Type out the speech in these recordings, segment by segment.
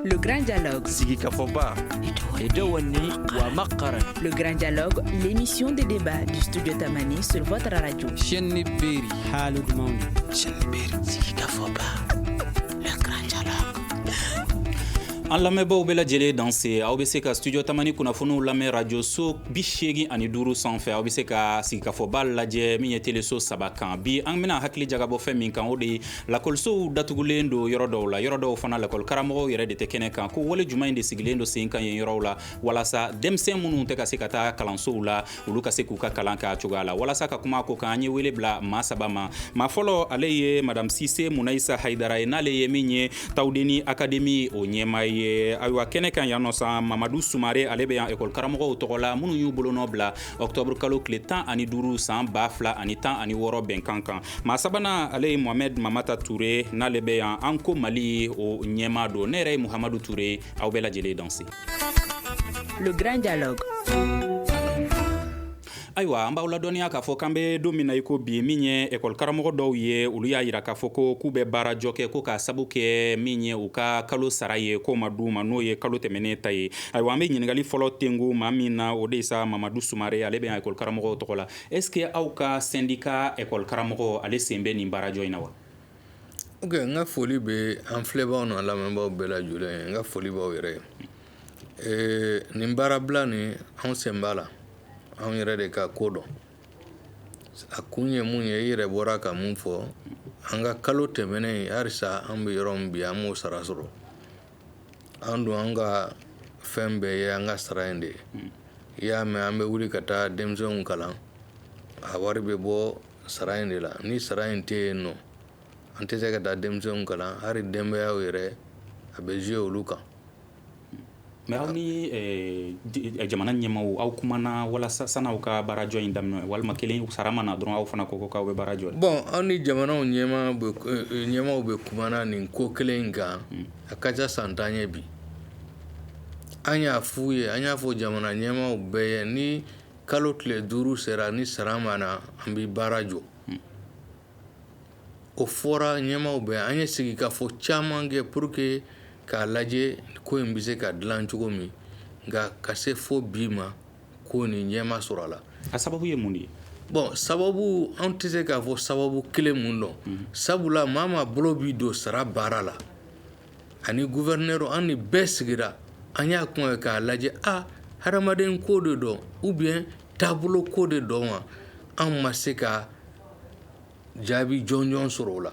Le Grand Dialogue. Sigikafɔba. Edawani wa makaran. Le Grand Dialogue, l'émission de débat du studio Tamani sur votre radio. Chenni Beri. Halud Mawni. Chenni Beri. Sigikafɔba. Le Grand Dialogue. An lamɛnbaaw bɛɛ lajɛlen danse aw bɛ se ka studio tamani kunnafoniw lamɛn radio so bi seegin ani duuru sanfɛ aw bɛ se ka sigikafɔba lajɛ min ye teleso saba kan bi an bɛna hakili jagabɔ fɛn min kan o de ye lakɔlisow datugulen don yɔrɔ dɔw la yɔrɔ dɔw fana lakɔli karamɔgɔw yɛrɛ de tɛ kɛnɛ kan ko wale jumɛn de sigilen don sen kan yen yɔrɔw la walasa denmisɛn minnu tɛ ka se ka taa kalansow la olu ka se k'u ka kalan k'a cogoya la walasa ka kuma ko kan an ye wele bila maa saba ma maa fɔlɔ ale ye madame sise munayisa hayidara ye n'ale ye min ye tawudeni akademi o ɲɛmaa ye ayiwa kɛnɛ kan yan nɔ san mamadu sumare ale bɛ yan ekɔli karamɔgɔw tɔgɔ la minnu y'u bolonɔ bila ɔktɔburu kalo tile tan ani duuru san ba fila ani tan ani wɔɔrɔ bɛnkan kan maa sabanan ale ye mohamɛd mamata ture n'ale bɛ yan anko mali o ɲɛmaa don ne yɛrɛ ye muhamadu ture aw bɛɛ lajɛlen danse le grand dialogue ayiwa an b'aw ladɔnniya k'a fɔ k'an bɛ don min na i ko bi min ye ekɔli karamɔgɔ dɔw ye olu y'a yira k'a fɔ ko k'u bɛ baarajɔ kɛ ko k'a sabu kɛ min ye u ka kalo sara ye k'o ma d'u ma n'o ye kalo tɛmɛnen ta ye ayiwa an bɛ ɲininkali fɔlɔ tengu maa min na o de ye sa mamadu sumare ale bɛ yan ekɔli karamɔgɔw tɔgɔ la Est-ce que aw ka sendika ekɔli karamɔgɔ ale sen bɛ nin baarajɔ in na wa ok n ka foli bɛ an filɛbaw n'a lamɛnbaw bɛɛ lajɛlen ye n ka foli b'aw yɛrɛ ye nin baarabila nin anw sen b'a la anw yɛrɛ de ka ko don a kun ye mun ye i yɛrɛ bɔra ka mun fɔ an ka kalo tɛmɛnen ye halisa an bɛ yɔrɔ min bi an m'o sara sɔrɔ an dun an ka fɛn bɛɛ ye an ka sara in de ye i y'a mɛn an bɛ wuli ka taa denmisɛnw kalan a wari bɛ bɔ sara in de la ni sara in tɛ yen nɔ an tɛ se ka taa denmisɛnw kalan hali denbayaw yɛrɛ a bɛ jouer olu kan mais aw ni jamana ɲɛmaaw kumana walasa san'aw ka baarajɔ in daminɛ walima kelen sara ma na dɔrɔn aw fana ko k'aw bɛ baara jɔ bon an ni jamanaw ɲɛma ɲɛmaaw bɛɛ kumana nin ko kelen in kan a ka ca san tan ye bi an y'a f'u ye an y'a fɔ jamana ɲɛmaaw bɛɛ ye ni kalo tile duuru sera ni sara ma na an bɛ baara jɔ o fɔra ɲɛmaaw bɛɛ ye an ye sigikafɔ caman kɛ pour que k'a lajɛ ko in bɛ se ka dilan cogo min nka ka se fo bi ma ko nin ɲɛ ma sɔrɔ a la a sababu ye mun de ye bon sababu an tɛ se k'a fɔ sababu kelen mun don mhm. sabula maa maa bolo bɛ don sara baara la ani gouverneur an ni bɛɛ sigira an y'a kuma ye k'a lajɛ a hadamaden ko de don ou bien taabolo ko de don wa an ma se ka jaabi jɔnjɔn sɔrɔ o la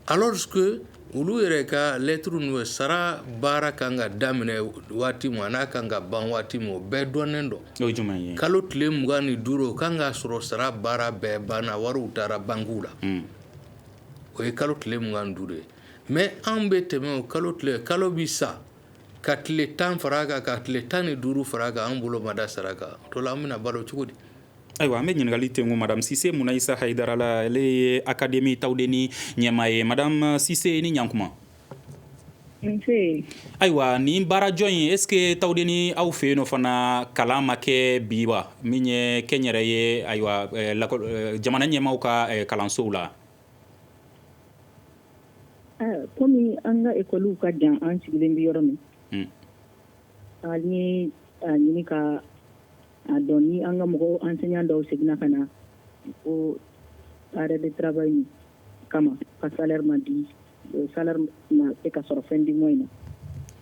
Alors que olu yɛrɛ ka lettre n'u ye sara baara kan ka daminɛ waati min an'a kan ka ban waati min o bɛɛ dɔnnen don o ye jumɛn ye kalo tile mugan ni duuru o kan k'a sɔrɔ sara baara bɛɛ banna wariw taara bankiw la hmm. o ye kalo tile mugan ni duuru ye mais anw bɛ tɛmɛ o kalo tile kalo bi sa ka tile tan fara a kan ka tile tan ni duuru fara a kan an bolo ma da sara kan o to la an bɛna balo cogo di ayiwa an bɛ ɲininkali tengu madame sise munayisa hayidara la ale ye akademi tawudeni ɲɛmaa ye madame sise i ni ɲankuma ayiwa nin baarajɔ in est ce que tawudeni aw fɛ yen nɔ fana kalan ma kɛ bi wa min ye kɛnyɛrɛ ye ayiwa eh, eh, jamana ɲɛmaaw ka eh, kalansow la komi an ka ekɔliw ka jan an sigilen bɛ yɔrɔ min hmm. an ye a ɲini ka A dɔn ni an ka mɔgɔw enseignant dɔw seginna ka na ko arrêt de travail kama ka salaire ma di salaire ma se ka sɔrɔ fin du mois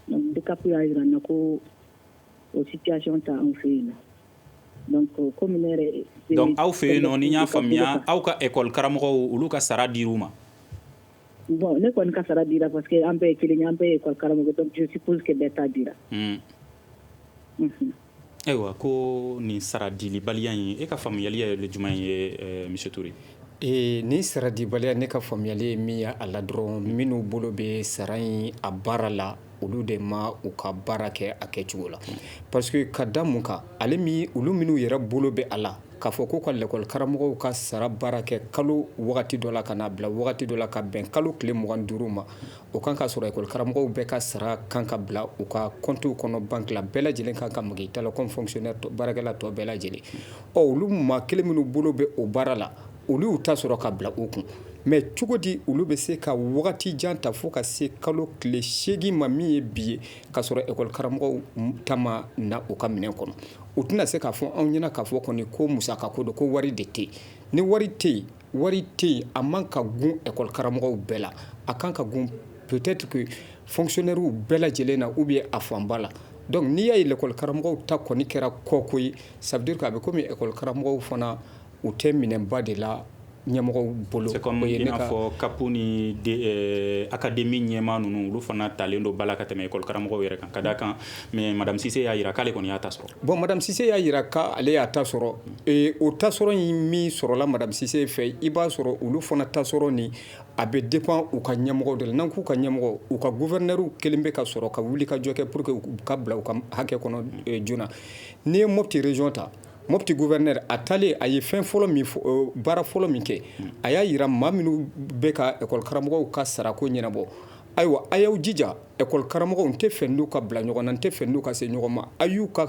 na DCAP y'a jira n na ko o situation t'an fɛ yen na donc aw fɛ yen nɔ ni n y'a faamuya aw ka ekɔli karamɔgɔw olu ka sara dir'u ma bon ne kɔni ka sara dira parce que an bɛɛ ye kelen ye an bɛɛ ye ekɔli karamɔgɔ je suppose bɛɛ ta dira Ayiwa ko nin sara dilibaliya in e ka faamuyali yɛrɛ ye jumɛn ye monsieur ture ee nin sara dibaliya ne ka faamuyali ye min ye a la dɔrɔn minnu bolo bɛ sara in a baara la olu de ma u ka baara kɛ a kɛcogo la parce que ka da mun kan ale olu minnu yɛrɛ bolo bɛ a la k'a fɔ ko ka lakɔlikaramɔgɔw ka sara baara kɛ kalo wagati dɔ la ka n'a bila wagati dɔ la ka bɛn kalo tile mugan ni duuru ma O kan k'a sɔrɔ ekɔli karamɔgɔw bɛɛ ka sara kan ka bila u ka compte kɔnɔ banki la bɛɛ lajɛlen kan ka mali ta baarakɛla tɔ bɛɛ lajɛlen ɔ olu maa kelen minnu bolo bɛ o baara la olu y'u ta sɔrɔ ka bila u kun mais cogo di olu bɛ se ka wagati jan ta fo ka se kalo tile seegin ma min ye bi ye k'a sɔrɔ ekɔli karamɔgɔw ta ma na u ka minɛn kɔnɔ u tɛna se k'a fɔ anw ɲɛ na k'a fɔ kɔni ko musaka ko don ko wari de tɛ ni wari tɛ yen wari tɛ yen a man kan ka gun ekɔli karamɔgɔw bɛɛ la a kan ka gun peut-être que fonctionnairew bɛɛ lajɛlen na ou bien a fanba la donc n'i y'a ye lakɔli karamɔgɔw ta kɔni kɛra kɔko ye ça veut dire a bɛ kɔmi ekɔli karamɔgɔw fana u tɛ minɛnba de la ɲɛmɔgɔw bolo fɔ CAP ni akademi ɲɛmaa ninnu olu fana talen don ba la ka tɛmɛ ekɔli karamɔgɔw yɛrɛ kan ka da a kan mais madame sise y'a jira k'ale kɔni y'a ta sɔrɔ Bon madame Cissé y'a jira k' ale y'a ta sɔrɔ ee o ta sɔrɔ in min sɔrɔla madame Cissé fɛ i b'a sɔrɔ olu fana ta sɔrɔ nin a bɛ dépend u ka ɲɛmɔgɔ de la n'an k'u ka ɲɛmɔgɔ u ka gouverneur kelen bɛ ka sɔrɔ ka wuli ka jɔ kɛ pour que u ka bila u ka hakɛ kɔnɔ joona n'i ye Mopti région ta Mopti gouverneur a taalen a ye fɛn fɔlɔ baara fɔlɔ min kɛ a y'a jira maa minnu bɛ ka école karamɔgɔw ka sarako ɲɛnabɔ ayiwa a y'aw jija ɛkɔli karamɔgɔw n tɛ fɛ n'u ka bila ɲɔgɔn na n tɛ fɛ n'u ka se ɲɔgɔn ma a y'u ka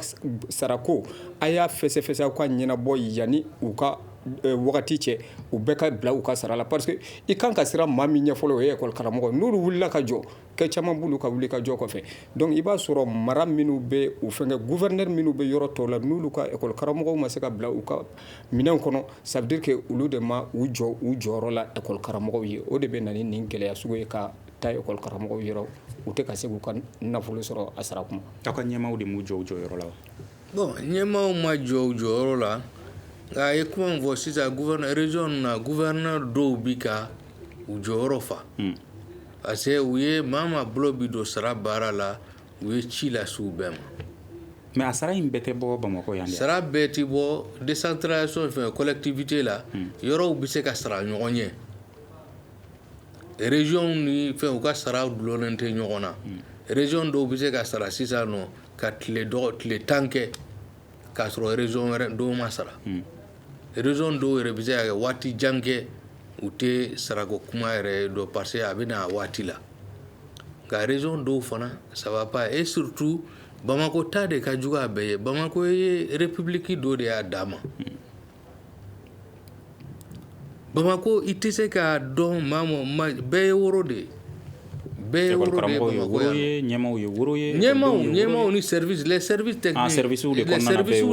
sarako a y'a fɛsɛfɛsɛ aw ka ɲɛnabɔ yanni u ka Eh, wagati cɛ u bɛɛ ka bila u ka sara la parce que i kan ka siran maa min ɲɛ fɔlɔ o ye ekɔli karamɔgɔ n'olu wulila ka jɔ kɛ caman b'olu ka wuli ka jɔ kɔfɛ donc i b'a sɔrɔ mara minnu bɛ u fɛnkɛ gouverneur minnu bɛ yɔrɔ tɔw la n'olu ka ekɔli karamɔgɔw ma se ka bila u ka Minɛnw kɔnɔ ça veut dire que olu de ma u jɔ u jɔyɔrɔ la école karamɔgɔw ye o de bɛ na ni nin gɛlɛya sugu ye ka taa école karamɔgɔw yɔrɔ u tɛ ka se k'u ka nafolo sɔrɔ a sara kuma aw ka ɲɛmaaw de m'u jɔ u jɔyɔrɔ la wa bon ɲɛmaaw ma jɔ u jɔyɔrɔ la nka a ye kuma min fɔ sisan gouverneur région ninnu na gouverneur dɔw bi ka u jɔyɔrɔ fa hmm. parce que u ye maa maa bolo bi don sara baara la u ye ci lase u bɛɛ ma mais a sara in bɛɛ tɛ bɔ bamakɔ yan sara bɛɛ tɛ bɔ décentralisation fɛ collectivité la hmm. yɔrɔw bɛ se ka sara ɲɔgɔn ɲɛ région ni fɛn u ka sara dulonnen tɛ ɲɔgɔn na hmm. région dɔw bɛ se ka sara sisan nɔ ka tile tan kɛ k'a sɔrɔ région wɛrɛ dɔw ma sara région dɔw yɛrɛ bɛ se ka kɛ waati jan kɛ u tɛ sarako kuma yɛrɛ dɔn parce que a bɛ na a waati la nka région dɔw fana ça va pas et surtout bamakɔ ta de ka jugu a bɛɛ ye bamakɔ ye république dɔ de y'a dama Bamakɔ i tɛ se k'a dɔn maa bɛɛ ye woro de ye bɛɛ ye ɲɛmaaw ye woro ye ɲɛma ɲɛmaaw ni services techniques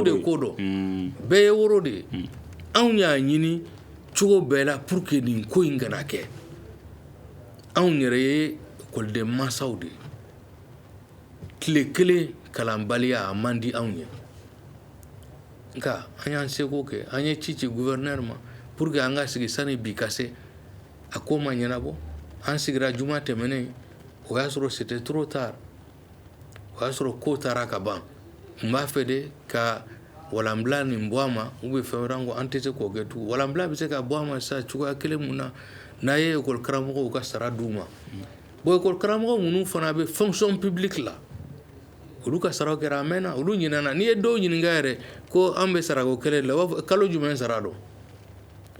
de ko don bɛɛ ye woro de ye anw y'a ɲini cogo bɛɛ la pour que nin ko in kana kɛ anw yɛrɛ ye ekɔliden masaw de ye tile kelen kalanbaliya a man di anw ye nka an y'an seko kɛ an ye ci ci gouverneur ma pour que an ka sigi sani bi ka se a ko ma ɲɛnabɔ an sigira juma tɛmɛnen o y'a sɔrɔ c'était trop tard o y'a sɔrɔ ko taara ka ban n b'a fɛ de ka walanbila nin bɔ a ma ou bien fɛn wɛrɛ ko an tɛ se k'o kɛ tugun walanbila bɛ se ka bɔ a ma sa cogoya kelen mun na n'a ye école karamɔgɔw ka sara d'u ma bon école karamɔgɔ minnu fana bɛ fonction publique la olu ka sara kɛra a mɛnna olu ɲinana n'i ye dɔw ɲininka yɛrɛ ko an bɛ sarako kɛlɛ la u b'a fɔ kalo jumɛn sara don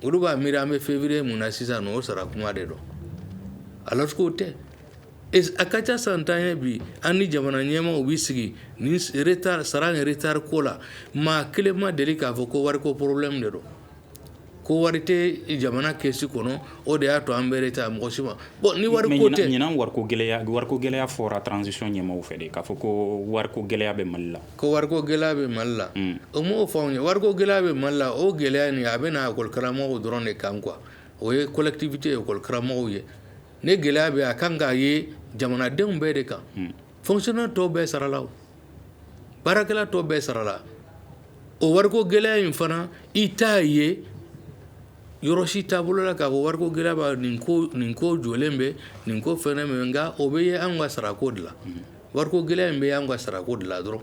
olu b'a miiri an bɛ février mun na sisan o sara kuma de don alors que o tɛ a ka ca san tan ye bi an ni jamana ɲɛmaaw bɛ sigi ni sara retard ko la maa kelen ma deli k'a fɔ ko wariko problème de don ko wari tɛ jamana kɛsi kɔnɔ o de y'a to an bɛ retard mɔgɔ si ma bon ni wariko tɛ ɲinan wari gɛlɛya wari gɛlɛya fɔra transition ɲɛmɔgɔ fɛ de k'a fɔ ko wari gɛlɛya bɛ mali la ko wari gɛlɛya bɛ mali la u m'o fɔ anw ye wari gɛlɛya bɛ mali la o gɛlɛya nin a bɛ école karamɔgɔw dɔrɔn de kan quoi o ye collectivité école karamɔgɔw ye ni gɛlɛya bɛ a kan ka ye jamanadenw bɛɛ de kan fonctionnaire tɔw bɛɛ sarala baarakɛla tɔw bɛɛ sarala o wariko gɛlɛya in fana i t'a ye yɔrɔ si taabolo la k'a fɔ wari gɛlɛya b'a nin ko nin ko jɔlen bɛ nin ko fɛn min nka o bɛ ye an ka sarako de la wariko gɛlɛya in bɛ an ka sarako de la dɔrɔn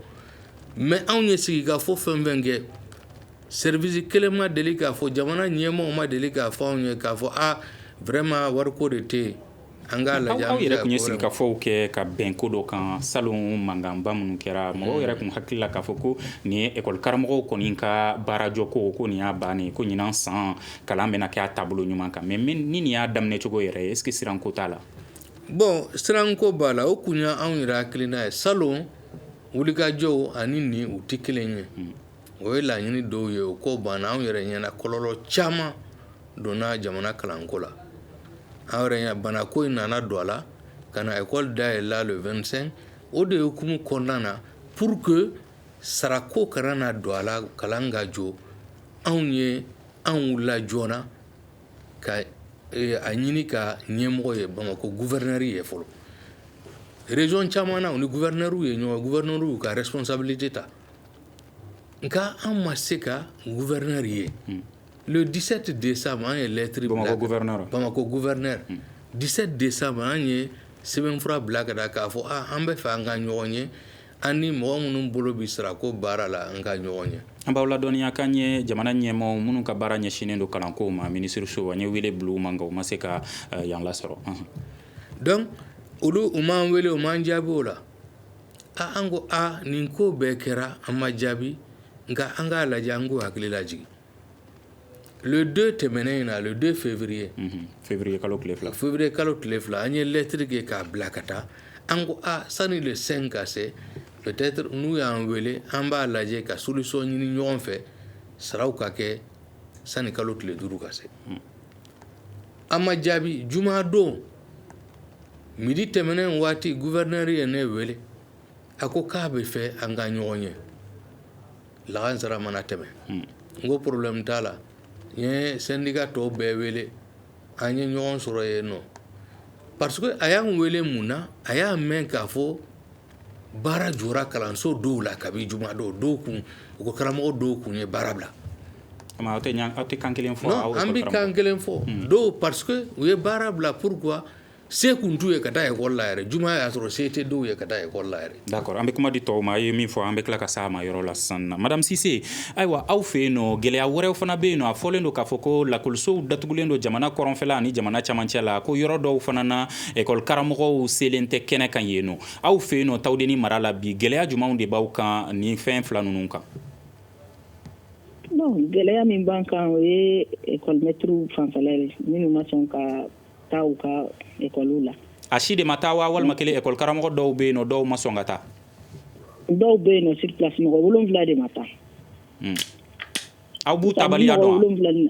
mais anw ye sigikafɔ fɛn fɛn kɛ seribisi kelen ma deli k'a fɔ jamana ɲɛmɔgɔ ma deli k'a fɔ anw ye k'a fɔ aa vraiment wariko de tɛ yen An k'a lajɛ aw yɛrɛ tun ye sigikafɔw kɛ ka bɛn ko dɔ kan salon mankanba minnu kɛra mɔgɔw yɛrɛ tun hakili la k'a fɔ ko nin ye ekɔli karamɔgɔw kɔni ka baarajɔ ko ko nin y'a bannen ko ɲinan san kalan bɛna kɛ a taabolo ɲuman kan mais ni nin y'a daminɛcogo yɛrɛ ye est-ce que siranko t'a la bon siranko b'a la o kun ye anw yɛrɛ hakilina ye salon wulikajɔw ani nin u tɛ kelen ye o ye laɲini dɔw ye o ko banna anw yɛrɛ ɲɛna kɔlɔlɔ caman donna jamana kalanko la an yɛrɛ ɲɛna banako in nana don a la ka na ekɔli dayɛlɛ le vingt-cinq o de hukumu kɔnɔna na pour que sarako kana na don a la kalan ka jɔ anw ye anw la joona ka eh, a ɲini ka ɲɛmɔgɔ ye bamakɔ guvɛrinɛri ye fɔlɔ région caman na u ni guvɛrinɛriw ye ɲɔgɔn guvɛrinɛriw ka responsabilité ta nka an ma se ka guvɛrinɛri ye le dix-sept décembre an ye lɛtiri bamakɔ guvɛrinɛri dix-sept décembre an ye sɛbɛnfura bila ka k'a fɔ an bɛ fɛ an ka ɲɔgɔn ye an ni mɔgɔ minnu bolo bɛ sarako baara la an ka ɲɔgɔn ye an b'aw ladɔnniya k'an ye jamana ɲɛmaaw minnu ka baara ɲɛsinnen don kalanko ma minisiriso an ye wele bila u ma nka u ma se ka yan lasɔrɔ donc olu u m'an wele u m'an jaabi o la An ko aa nin ko bɛɛ kɛra an ma jaabi nka an k'a lajɛ an k'u hakili lajigi le deux tɛmɛnen in na le deux février février kalo tile fila an ye lɛtiri kɛ k'a bila ka taa an ko aa sani le cinq ka se peut-être n'u y'an wele an b'a lajɛ ka solution ɲini ɲɔgɔn fɛ saraw ka kɛ sani kalo tile duuru ka se an ma jaabi juma don midi tɛmɛnen waati gouverneur ye ne weele a ko k'a bɛ fɛ an ka ɲɔgɔn ye lagansara mana tɛmɛ n ko problème t'a la n ye syndicat tɔw bɛɛ weele an ye ɲɔgɔn sɔrɔ yen nɔ parce que a y'an weele mun na a y'a mɛn k'a fɔ baara jɔra kalanso dɔw la kabi juma dɔw dɔw kun u ko karamɔgɔ dɔw kun ye baara bila aw tɛ aw tɛ kan kelen fɔ an bɛ kan kelen fɔ hmm. dɔw parce que u ye baara bila pourquoi se tun t'u ye ka taa école la yɛrɛ juma y'a sɔrɔ se tɛ dɔw ye ka taa école la yɛrɛ d'accord an bɛ kuma di tɔw ma a ye min fɔ an bɛ tila ka s'a ma yɔrɔ la sisan na madame Cissé ayiwa aw fɛ yen nɔ gɛlɛya wɛrɛw fana bɛ yen nɔ a fɔlen don k'a fɔ ko lakɔlisow datugulen don jamana kɔrɔnfɛla ani jamana camancɛ la ko yɔrɔ dɔw fana na École karamɔgɔw selen tɛ kɛnɛ kan yen nɔ aw fɛ yen nɔ Tawudeni mara la bi gɛlɛya jumɛnw de b'aw kan nin fɛn fila ninnu kan gɛlɛya min b'an kan o ye maîtrew fanfɛ minnu ma sɔn ka taa u ka écolew la a si de ma taa wa walima kelen école karamɔgɔ dɔw bɛ yen nɔ dɔw ma sɔn ka taa dɔw bɛ yen nɔ sur place mɔgɔ wolonwula de ma taa aw b'u taabaliya dɔn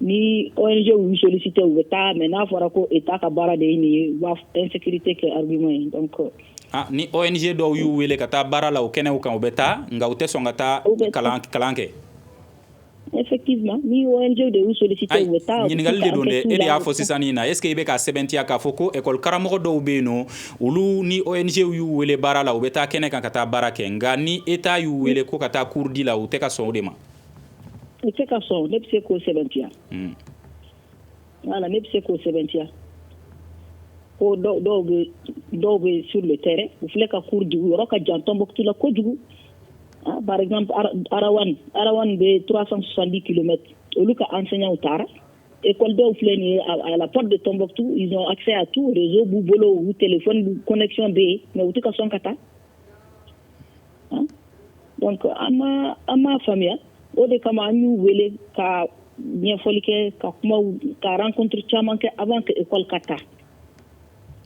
ni ONG y'u solliciter u bɛ taa mais n'a fɔra ko Etat ka baara de ye nin ye u b'a fɔ insécurité kɛ argument ye donc ah, ni ONG dɔw y'u wele ka taa baara la o kɛnɛw kan u bɛ taa nka u tɛ sɔn ka taa kalan kalan kɛ effectivement ni ONG de y'u solliciter u bɛ taa ɲininkali de don dɛ e de y'a fɔ sisan nin na est ce que i bɛ ka sɛbɛntiya k'a fɔ ko école karamɔgɔ dɔw bɛ yen nɔ olu ni ONG y'u wele baara la u bɛ taa kɛnɛ kan ka taa baara kɛ nka ni Etat y'u wele ko ka taa cours di la u tɛ ka sɔn o de ma I tɛ ka sɔn ne bɛ se k'o sɛbɛntiya wala ne bɛ se k'o sɛbɛntiya ko dɔw bɛ su de tɛ u filɛ ka kuru dugu yɔrɔ ka jan tɔnonmɔtu la kojugu arawa bɛ turasan sandi kelen olu ka an senw taara e kɔn dɔw filɛ nin ye alap de tɔnonmɔtu a tu b'u bolo u tɛ fɔ kɔnɛc bɛ yen mɛ u tɛ ka sɔn ka taa an m'a faamuya o de kama an y'u wele ka ɲɛfɔli kɛ ka kuma ka rencontre caman kɛ avant que école ka taa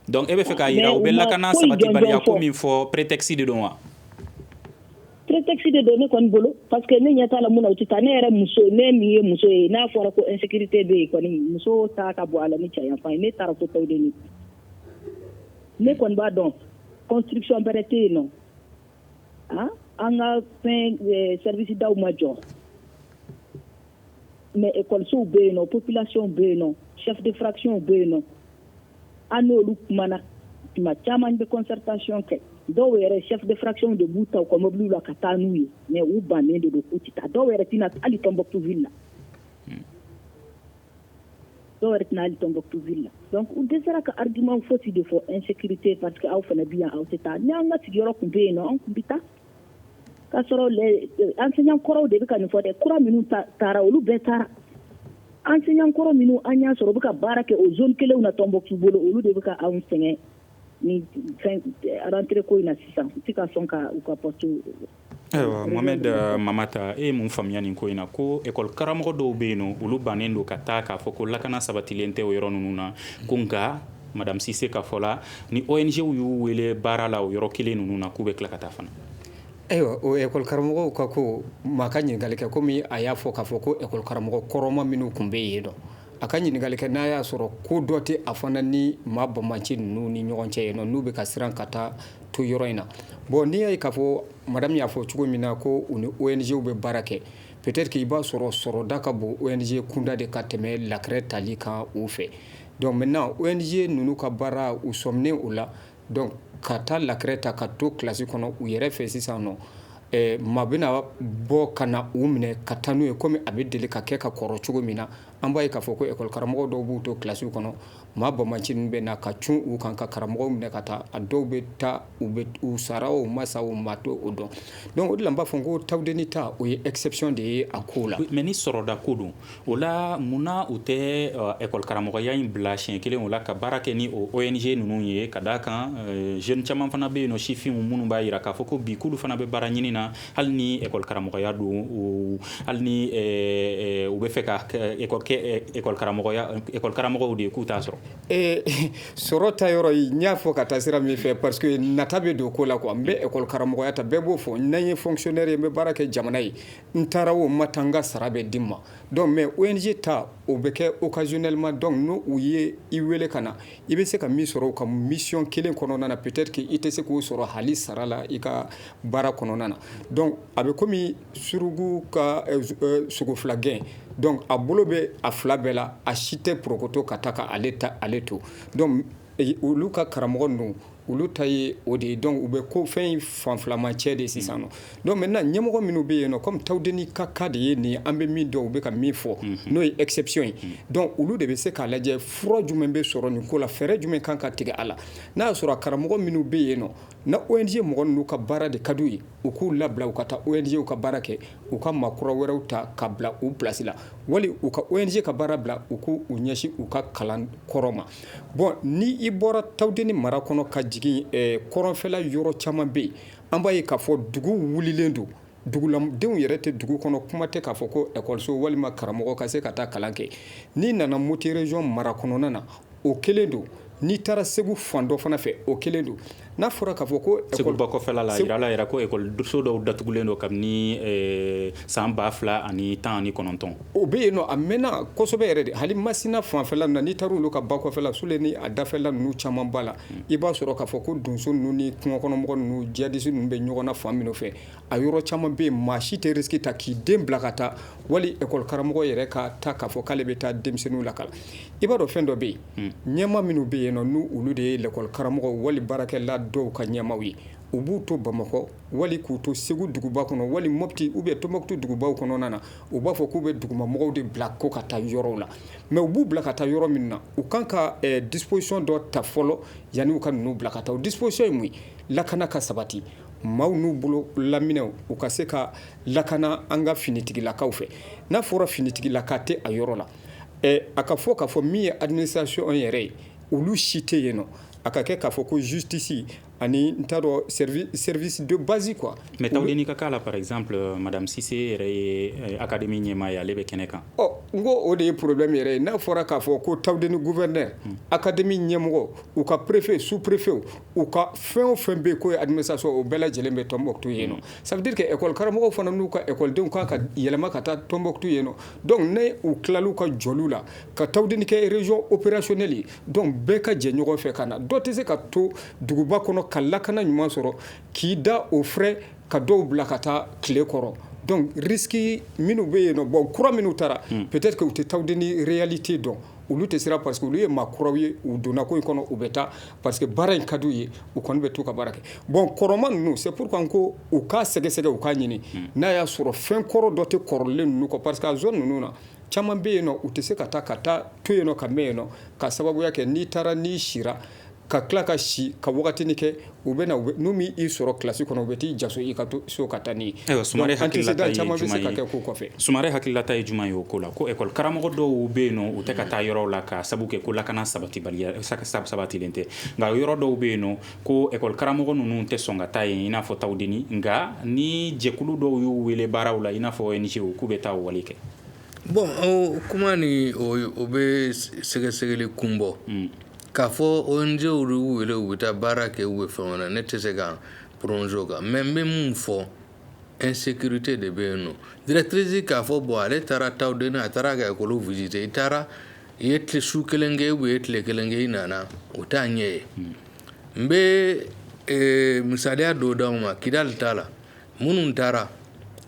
donc e bɛ fɛ k'a yira u bɛ lakana sabatibaliya ko min fɔ prétexte de don wa prétexte de don ne kɔni bolo parce que ne ɲɛ t'a la mun na u tɛ taa ne yɛrɛ muso ne min ye muso ye n'a fɔra ko insécurité bɛ yen kɔni muso ta ka bon a la ni cɛ yanfan ye ne taara fo ne kɔni b'a dɔn construction bɛrɛ tɛ yen nɔ ah, an ka fɛn eh, service daw ma jɔ mais écolesow bɛ yen nɔ population bɛ yen nɔ chef de fraction bɛ yen nɔ an n'olu kumana tuma caman bɛ concertation kɛ dɔw yɛrɛ chef de fraction de b'u ta u ka mɔbiliw la ka taa n'u ye mais u bannen de don k'u tɛ taa dɔw yɛrɛ tɛ na hali Tombouctou ville la dɔw yɛrɛ tɛ na hali Tombouctou la donc u dɛsɛra ka argument fosi de fɔ insécurité parce que aw fana bi yan aw tɛ taa ni an ka sigiyɔrɔ tun bɛ yen nɔ an tun bɛ taa k'a sɔrɔ euh, enseignant kɔrɔw de bɛ ka nin fɔ dɛ kura minnu taara olu bɛɛ taara enseignant kɔrɔ minnu an y'a sɔrɔ u bɛ ka baara kɛ o zone kelenw na Tombouctou bolo olu de bɛ ka anw sɛgɛn ni rentrée ko in na sisan u tɛ ka sɔn ka u ka poste ayiwa Mohamed Mamata e ye mun faamuyaya nin ko in na ko école karamɔgɔ dɔw bɛ yen nɔ olu bannen don ka taa k'a fɔ ko lakana sabatilen tɛ o yɔrɔ ninnu na ko nka madame Cissé ka fɔ la ni ONGw y'u wele baara la o yɔrɔ kelen ninnu na k'u bɛ tila ka taa fana ayiwa o école karamɔgɔw ka ko maa ka ɲininkali kɛ kɔmi a y'a fɔ k'a fɔ ko école karamɔgɔ kɔrɔma minnu tun bɛ yen nɔ A ka ɲininkali kɛ n'a y'a sɔrɔ ko dɔ tɛ a fana ni maa banbaanci ninnu ni ɲɔgɔn cɛ yen nɔ n'u bɛ ka siran ka taa to yɔrɔ in na bon n'i y'a ye k'a fɔ madame y'a fɔ cogo min na ko u ni ONGw bɛ baara kɛ peut-être k' i b'a sɔrɔ sɔrɔda ka bon ONG kunda de ka tɛmɛ lakrɛ tali kan u fɛ donc maintenant ONG ninnu ka baara u sɔminen o la Donc ka taa lakrɛ ta ka to kilasi kɔnɔ u yɛrɛ fɛ sisan nɔ maa bɛna bɔ ka na u minɛ ka taa n'u ye komi a bɛ deli ka kɛ ka kɔrɔ cogo min na an b'a ye k'a fɔ ko école karamɔgɔ dɔw b'u to kilasiw kɔnɔ maa banbaanci ninnu bɛ na ka cun u kan ka karamɔgɔ minɛ ka taa a dɔw bɛ taa u sara wo u ma sa wo maa t'o dɔn donc o de la n b'a fɔ ko Taoudéni ta o ye exception de ye a ko la mais ni sɔrɔda ko don O la munna u tɛ école karamɔgɔya in bila siɲɛ kelen o la ka baara kɛ ni o ONG ninnu ye ka da a kan jeune caman fana bɛ yen nɔ sifinw minnu b'a jira k'a fɔ ko bi k'olu fana bɛ baara ɲini na hali ni école karamɔgɔya don hali n'u bɛ fɛ ka école karamɔgɔ de ye k'u t'a sɔrɔ ee sɔrɔ ta yɔrɔ n y'a fɔ ka taa sira min fɛ parce que nata bɛ don ko la quoi an bɛ école karamɔgɔya ta bɛɛ b'o fɔ n'an ye fonctionnaire ye n bɛ baara kɛ jamana ye n taara wo n ma taa n ka sara bɛ di n ma donc mais ONG ta o bɛ kɛ occasionnellement donc n' u ye i weele ka na i bɛ se ka min sɔrɔ u ka mission kelen kɔnɔna na peut-être k'i tɛ se k'o sɔrɔ hali sara la i ka baara kɔnɔna na donc a bɛ kɔmi suruku ka sogo fila gɛn donc a bolo bɛ a fila bɛɛ la a si tɛ porokoto ka taa ka ale to donc olu ka karamɔgɔ ninnu Olu ta ye o de ye donc u bɛ ko fɛn in fan filama cɛ de sisan nɔ donc maintenant ɲɛmɔgɔ minnu bɛ yen nɔ kɔmi Taoudéni ka cas de ye nin ye an bɛ min dɔn u bɛ ka min fɔ n'o ye exception ye donc olu de bɛ se k'a lajɛ fura jumɛn bɛ sɔrɔ nin ko la fɛɛrɛ jumɛn kan ka tigɛ a la n'a y'a sɔrɔ a karamɔgɔ minnu bɛ yen nɔ ni ONG mɔgɔ ninnu ka baara de ka di u ye u k'u labila u ka taa ONG ka baara kɛ u ka maa kura wɛrɛw ta ka bila u place la wali u ka ONG ka baara bila u k' u ɲɛsin u ka kalan kɔrɔ ma bon ni i bɔra tawudeni mara kɔnɔ ka jigin kɔrɔnfɛla yɔrɔ caman bɛ yen an b'a ye k'a fɔ dugu wulilen don duguladenw yɛrɛ tɛ dugu kɔnɔ kuma tɛ k'a fɔ ko ekɔliso walima karamɔgɔ ka se ka taa kalan kɛ n'i nana moti région mara kɔnɔna na o kelen don n'i taara segu fan dɔ fana fɛ o kelen don N'a fɔra k'a fɔ ko segu bakɔfɛla jirala yɛrɛ ko ekɔliso dɔw datugulen don kabini san ba fila ani tan ni kɔnɔntɔn o bɛ yen a mɛnna kosɛbɛ yɛrɛ de hali masina fanfɛla na n'i taara olu ka bakɔfɛla sule ni a dafɛla ninnu caman b'a la i b'a sɔrɔ k'a fɔ ko donso ninnu ni kungokɔnɔmɔgɔ ninnu djihadiste ninnu bɛ ɲɔgɔn na fan min fɛ a yɔrɔ caman bɛ yen maa si tɛ risque ta k'i den bila ka taa wali école karamɔgɔ yɛrɛ ka taa k'a fɔ k'ale bɛ taa denmisɛnninw lakalan i b'a dɔn fɛn dɔ bɛ yen ɲɛmaa minnu bɛ yen n'olu de ye l'école karamɔgɔ wali baarakɛla dɔw ka ɲɛmaaw ye u b'u to bamakɔ wali k'u to segu duguba kɔnɔ wali mɔti ou bien tombouctou dugubaw kɔnɔna na u b'a fɔ k'u bɛ dugumamɔgɔw de bila ko ka taa yɔrɔ la mais u b'u bila ka taa yɔrɔ min na u kan ka disposition dɔ ta fɔlɔ yanni'u ka ninnu bila ka taa o disposition ye mun ye lakana ka sabati maaw n'u bolo laminɛw u ka se ka lakana an ka finitigilakaw fɛ n'a fɔra finitigilaka tɛ a yɔrɔ la a ka fɔ k'a fɔ min ye alimisasiy yɛrɛ ye olu si tɛ yen nɔ a ka kɛ k'a fɔ ko zutisi ani n t'a dɔn sɛdon basi qu mɛ taa ɲini ka k'a la paz maradamisise yɛrɛ ye a ka di min ɲɛmaa ye ale bɛ kɛnɛ kan ɔ n ko o de ye porobi min yɛrɛ ye n'a fɔra k'a fɔ ko tawud ni gupɛ a ka dimi ɲɛmɔgɔ u ka perepfe su perepfew u ka fɛn o fɛn bɛ yen ko alimisasiɔn o bɛɛ lajɛlen bɛ tɔnonmɔ tu yen sabike ɛkɔlikara fana n'u ka ɛkɔlidenw kan ka yɛlɛma ka taa tɔnonmɔ tu yen Donc ni u tilala u ka jɔli la, ka tawudeni kɛ région opérationnelle ye donc bɛɛ ka jɛ ɲɔgɔn fɛ ka na, dɔ tɛ se ka to duguba kɔnɔ ka lakana ɲuman sɔrɔ k'i da o frais ka dɔw bila ka taa tile kɔrɔ donc risque minnu bɛ yen nɔ bon kura minnu taara peut-être que u tɛ tawudeni réalité dɔn. olu tɛ siran parce que olu ye maa kuraw ye u donna ko in kɔnɔ u bɛ taa parce que baara in ka di u ye u kɔni bɛ t'u ka baara kɛ bon kɔrɔma ninnu c'est pourquoi n ko u k'a sɛgɛsɛgɛ u k'a ɲini hmm. n'a y'a sɔrɔ fɛn kɔrɔ dɔ tɛ kɔrɔlen ninnu kɔ parce que a zone ninnu na caman bɛ yen nɔ u tɛ se ka taa ka taa to yen nɔ ka mɛn yen nɔ ka sababuya kɛ n'i taara n'i sira ka tila ka si ka wagatini kɛ u bɛ na n'u m'i sɔrɔ kilasi kɔnɔ u bɛ t'i jaso i ka to so ka taa n'i ye antécédent caman bɛ se ka kɛ ko kɔfɛ sumare hakililata ye jumɛn ye o ko la ko école karamɔgɔ dɔw bɛ yen nɔ u tɛ ka taa yɔrɔ la ka sabu kɛ ko lakana saba sabatilen tɛ nka yɔrɔ dɔw bɛ yen nɔ ko école karamɔgɔ ninnu tɛ sɔn ka taa yen i n'a fɔ tawudeni nka ni jɛkulu dɔw y'u wele baaraw la i n'a fɔ ONG k'u bɛ taa wale kɛ bon kuma ni o bɛ sɛgɛsɛgɛli kun bɔ k'a fɔ ONG y'u wele u bɛ taa baara kɛ ou bien fɛn wɛrɛ ne tɛ se ka prononcer o kan mais n bɛ min fɔ insécurité de bɛ yen nɔ directrice k'a fɔ bon ale taara Taoudeni a taara ka école visiter i taara i ye tile su kelen kɛ ou bien i ye tile kelen kɛ i nana o t'a ɲɛ ye n bɛ misaliya dɔ d'aw ma kidali t'a la minnu taara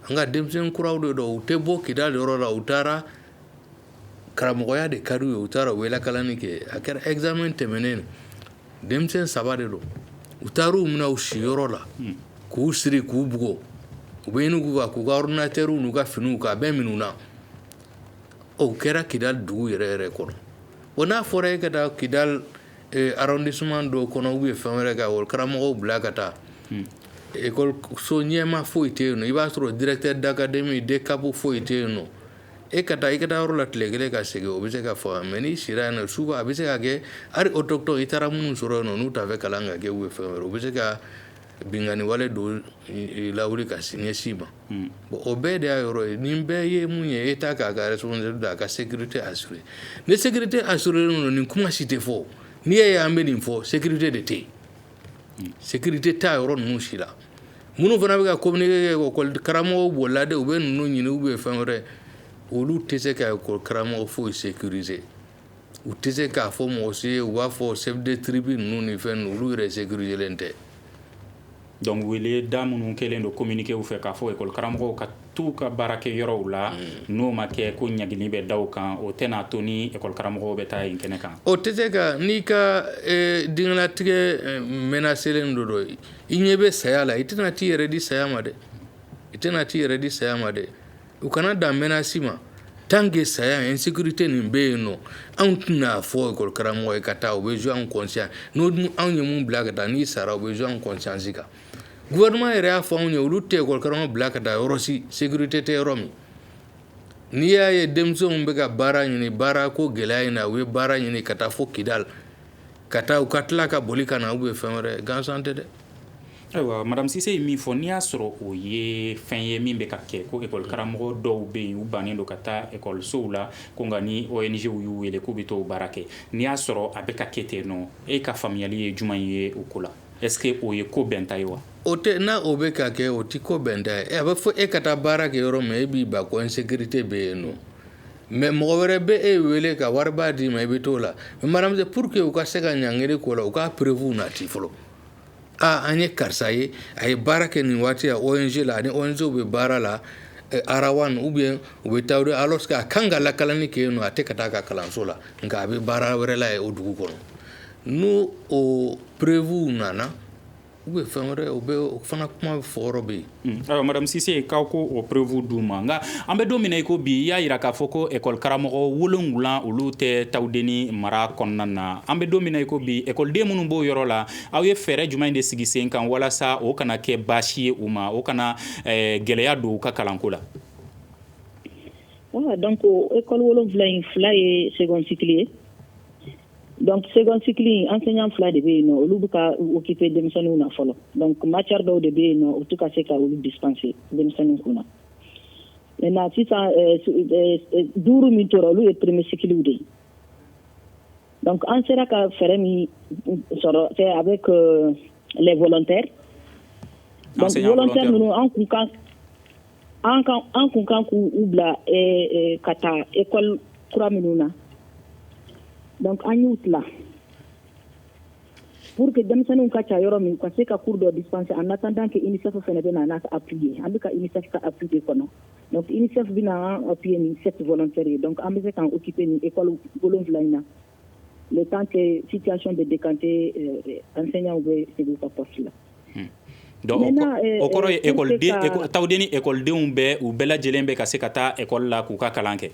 an ka denmisɛn kuraw de don u tɛ bɔ kidali yɔrɔ la u taara karamɔgɔya de ka di u ye u taara u bɛ lakalanni kɛ a kɛra examen tɛmɛnen denmisɛn saba de don u taara' u minɛ u siyɔrɔ la k'u siri k'u bugɔ u bɛ ɲini k'u ka ordinateurw n'u ka finiw k'a bɛɛ minɛ u na o kɛra kidali dugu yɛrɛ yɛrɛ kɔnɔ o n'a fɔra e ka taa kidali arrondissement dɔw kɔnɔ ou bien fɛn wɛrɛ ka o karamɔgɔ bila ka taa école so ɲɛma foyi tɛ yen i b'a sɔrɔ directeur d'académie DCAP foyi tɛ yen nɔ e ka taa i ka yɔrɔ la tile kelen ka segin o bɛ se ka fɔ mais n'i sira yen nɔ souvent a bɛ se ka kɛ hali autochtone i taara minnu sɔrɔ yen n'u t'a fɛ kalan ka kɛ ou bien fɛn wɛrɛ u bɛ se ka binkanni wale dɔ lawuli ka ɲɛsin i ma hmm. bon o bɛɛ de y'a yɔrɔ ye nin bɛɛ ye mun ye État k'a ka responsabilité don a ka sécurité assurer ni sécurité assurerlen don nin kuma si tɛ fɔ n'i y'a ye an bɛ nin fɔ sécurité de tɛ yen Sécurité tɛ a yɔrɔ ninnu si la minnu fana bɛ ka communiqué kɛ école karamɔgɔw bolila de u bɛ ninnu ɲini ou bien fɛn wɛrɛ olu tɛ se ka école karamɔgɔ foyi sécuriser u tɛ se k'a fɔ mɔgɔ si ye u b'a fɔ chef de tribu ninnu ni fɛn ninnu olu yɛrɛ sécuriserlen tɛ donc weleda minnu kɛlen don communiqué fɛ k'a fɔ école karamɔgɔw ka t'u ka baarakɛyɔrɔw la n'o ma kɛ ko ɲangili bɛ da u kan o tɛna n'a to ni école karamɔgɔw bɛ taa yen kɛnɛ kan o tɛ se ka n'i ka diɲɛlatigɛ menacerlen don i ɲɛ bɛ saya la i tɛna t'i yɛrɛ di saya ma dɛ i tɛna t'i yɛrɛ di saya ma dɛ u kana dan menace ma tant que saya insécurité nin bɛ yen nɔ anw tɛna fɔ école karamɔgɔ ye ka taa o bɛ jouer an conscience n'o dun anw ye min bila ka taa n'i sara o bɛ jouer an conscience kan Gouvernement yɛrɛ y'a fɔ anw ye olu tɛ école karamɔgɔ bila ka taa yɔrɔ si sécurité tɛ yɔrɔ min n'i y'a ye denmisɛnw bɛ ka baara ɲini baara ko gɛlɛya in na u ye baara ɲini ka taa fo Kidali ka taa u ka tila ka boli ka na ou bien fɛn wɛrɛ gansan tɛ dɛ ayiwa madame Sise ye min fɔ n'i y'a sɔrɔ o ye fɛn ye min bɛ ka kɛ ko école karamɔgɔ dɔw bɛ yen u bannen don ka taa école sow la ko nka ni ONG y'u wele k'u bɛ t'o baara kɛ n'i y'a sɔrɔ a bɛ ka kɛ ten nɔ e ka faamuyali ye jumɛn ye o ko la Est-ce que o ye ko bɛnta ye wa? O tɛ n'a o bɛ ka kɛ o tɛ ko bɛnta ye eh, a bɛ fɔ e ka taa baara kɛ yɔrɔ min e b'i ban ko insécurité bɛ yen nɔ mais mɔgɔ wɛrɛ bɛ e wele ka wariba d'i ma i bɛ t'o la mais madame pour que u ka se ka ɲangiri ko la u ka preuve nati fɔlɔ aa an ye karisa ye a ye baara kɛ nin waati la ONG la ani ONG bɛ baara la eh, Arawan ou bien u bɛ taa alors que a kan ka lakalani kɛ yen nɔ a tɛ ka taa a ka kalanso la nka a bɛ baara wɛrɛ la yen o dugu kɔnɔ n'o o preuve nana u bɛ fɛn wɛrɛ u bɛ o fana kuma fɔ yɔrɔ bɛ yen aa madame Cissé k'aw ko o preuve d'u ma nka an bɛ don min na i ko bi i y'a yira k'a fɔ ko ekɔli karamɔgɔ wolonwula olu tɛ Tawudeni mara kɔnɔna na an bɛ don min na i ko bi ekɔliden minnu b'o yɔrɔ la aw ye fɛɛrɛ jumɛn de sigi sen kan walasa o kana kɛ baasi ye u ma o kana gɛlɛya don u ka kalanko la donc ekɔli wolonwula in fila ye second cycle ye donc second cycle in enseignant fila de bɛ yen nɔ olu bɛ ka occuper denmisɛnninw na fɔlɔ donc matière dɔw de bɛ yen nɔ u tɛ ka se ka olu dispenser denmisɛnninw kun na maintenant sisan euh, euh, euh, duuru min tora olu ye premier cyclew de ye donc an sera ka fɛɛrɛ min sɔrɔ c'est avec les volontaires donc volontaire ninnu an kun kan an kun kan k'u u bila ka taa ekɔli kura minnu na donc an y'u tila pour que denmisɛnninw ka ca yɔrɔ min ka se ka cours dɔ dispenser en attendant que UNICEF fana bɛ na n'a ka appui ye an bɛ ka UNICEF ka appui de kɔnɔ donc UNICEF bɛna an appuyer ni sept volontaires ye donc an bɛ se k'an occuper ni ekɔli wolonwula in na le temps que situation bɛ décanter euh, enseignants bɛ segin u ka poste la. Hmm. Donc euh, o kɔrɔ ye Tawudeni ekɔlidenw bɛɛ u bɛɛ lajɛlen bɛ ka se ka taa ekɔli la k'u ka kalan kɛ.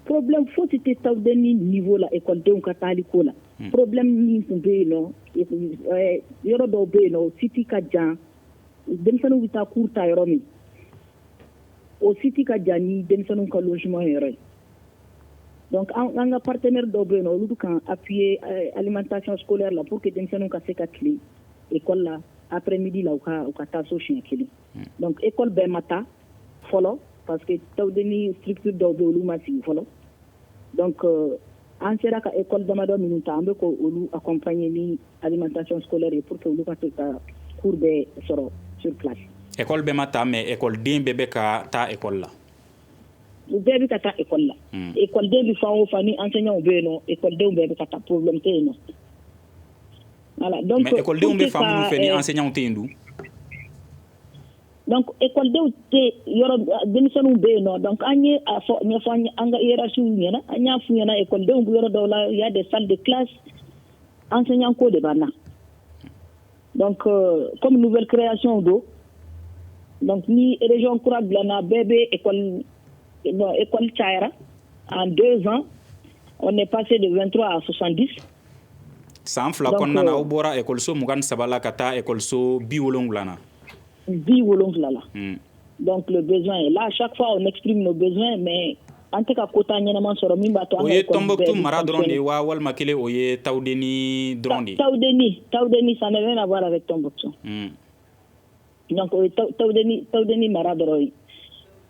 problème fosi tɛ Tawudeni niveau la ekɔlidenw ka taali ko la. Hmm. problème min tun bɛ yen nɔ euh, yɔrɔ dɔw bɛ yen nɔ o site ka jan denmisɛnninw bɛ taa cours ta yɔrɔ min o site ka jan ni denmisɛnninw ka logement yɔrɔ ye. an ka partenaire dɔw bɛ yen nɔ olu bɛ k'an appuyer alimentation scolaire la pour que denmisɛnninw ka se ka tile ekɔli la après-midi la u ka taa so siɲɛ kelen donc ekɔli bɛɛ ma ta fɔlɔ parce que Tawudeni structure dɔw bɛ olu ma sigi fɔlɔ donc an sera ka ekɔli damadɔ minnu ta an bɛ ka olu accompagner ni alimentation scolaire ye pour que olu ka se ka cours bɛɛ sɔrɔ sur place ekɔli bɛɛ ma ta mais ekɔliden bɛɛ bɛ ka taa ekɔli la u bɛɛ bɛ ka taa ekɔli la hmm. ekɔliden bɛ fan o fan ni enseignantw bɛ yen nɔ ekɔlidenw bɛɛ bɛ ka taa problème tɛ yen nɔ voilà donc mais ekɔlidenw bɛ fan minnu fɛ ni enseignantw tɛ yen dun donc ekɔlidenw tɛ yɔrɔ denmisɛnninw bɛ yen nɔ donc an ye a fɔ ɲɛfɔ an ka hiérarchiew ɲɛna an y'a f'u ɲɛna ekɔlidenw bɛ yɔrɔ dɔw la il y a des salles de classe enseignant ko de b'an na Donc comme nouvelle création don donc ni région kura dilanna bɛɛ bɛ école bon école cayara en deux ans on est passé de 23 à 70 san fila kɔnɔna na aw bɔra école so mugan ni saba la ka taa école so bi wolonwula na bi wolonwula la donc le besoin est là chaque fois on exprime nos besoins mais an tɛ ka quota ɲɛnama sɔrɔ min b'a to o ye Tombouctou mara dɔrɔn de ye wa walima kelen o ye Tawudeni dɔrɔn de ye Tawudeni Tawudeni ça n'a rien à voir avec Tombouctou donc o ye Tawudeni Tawudeni mara dɔrɔn ye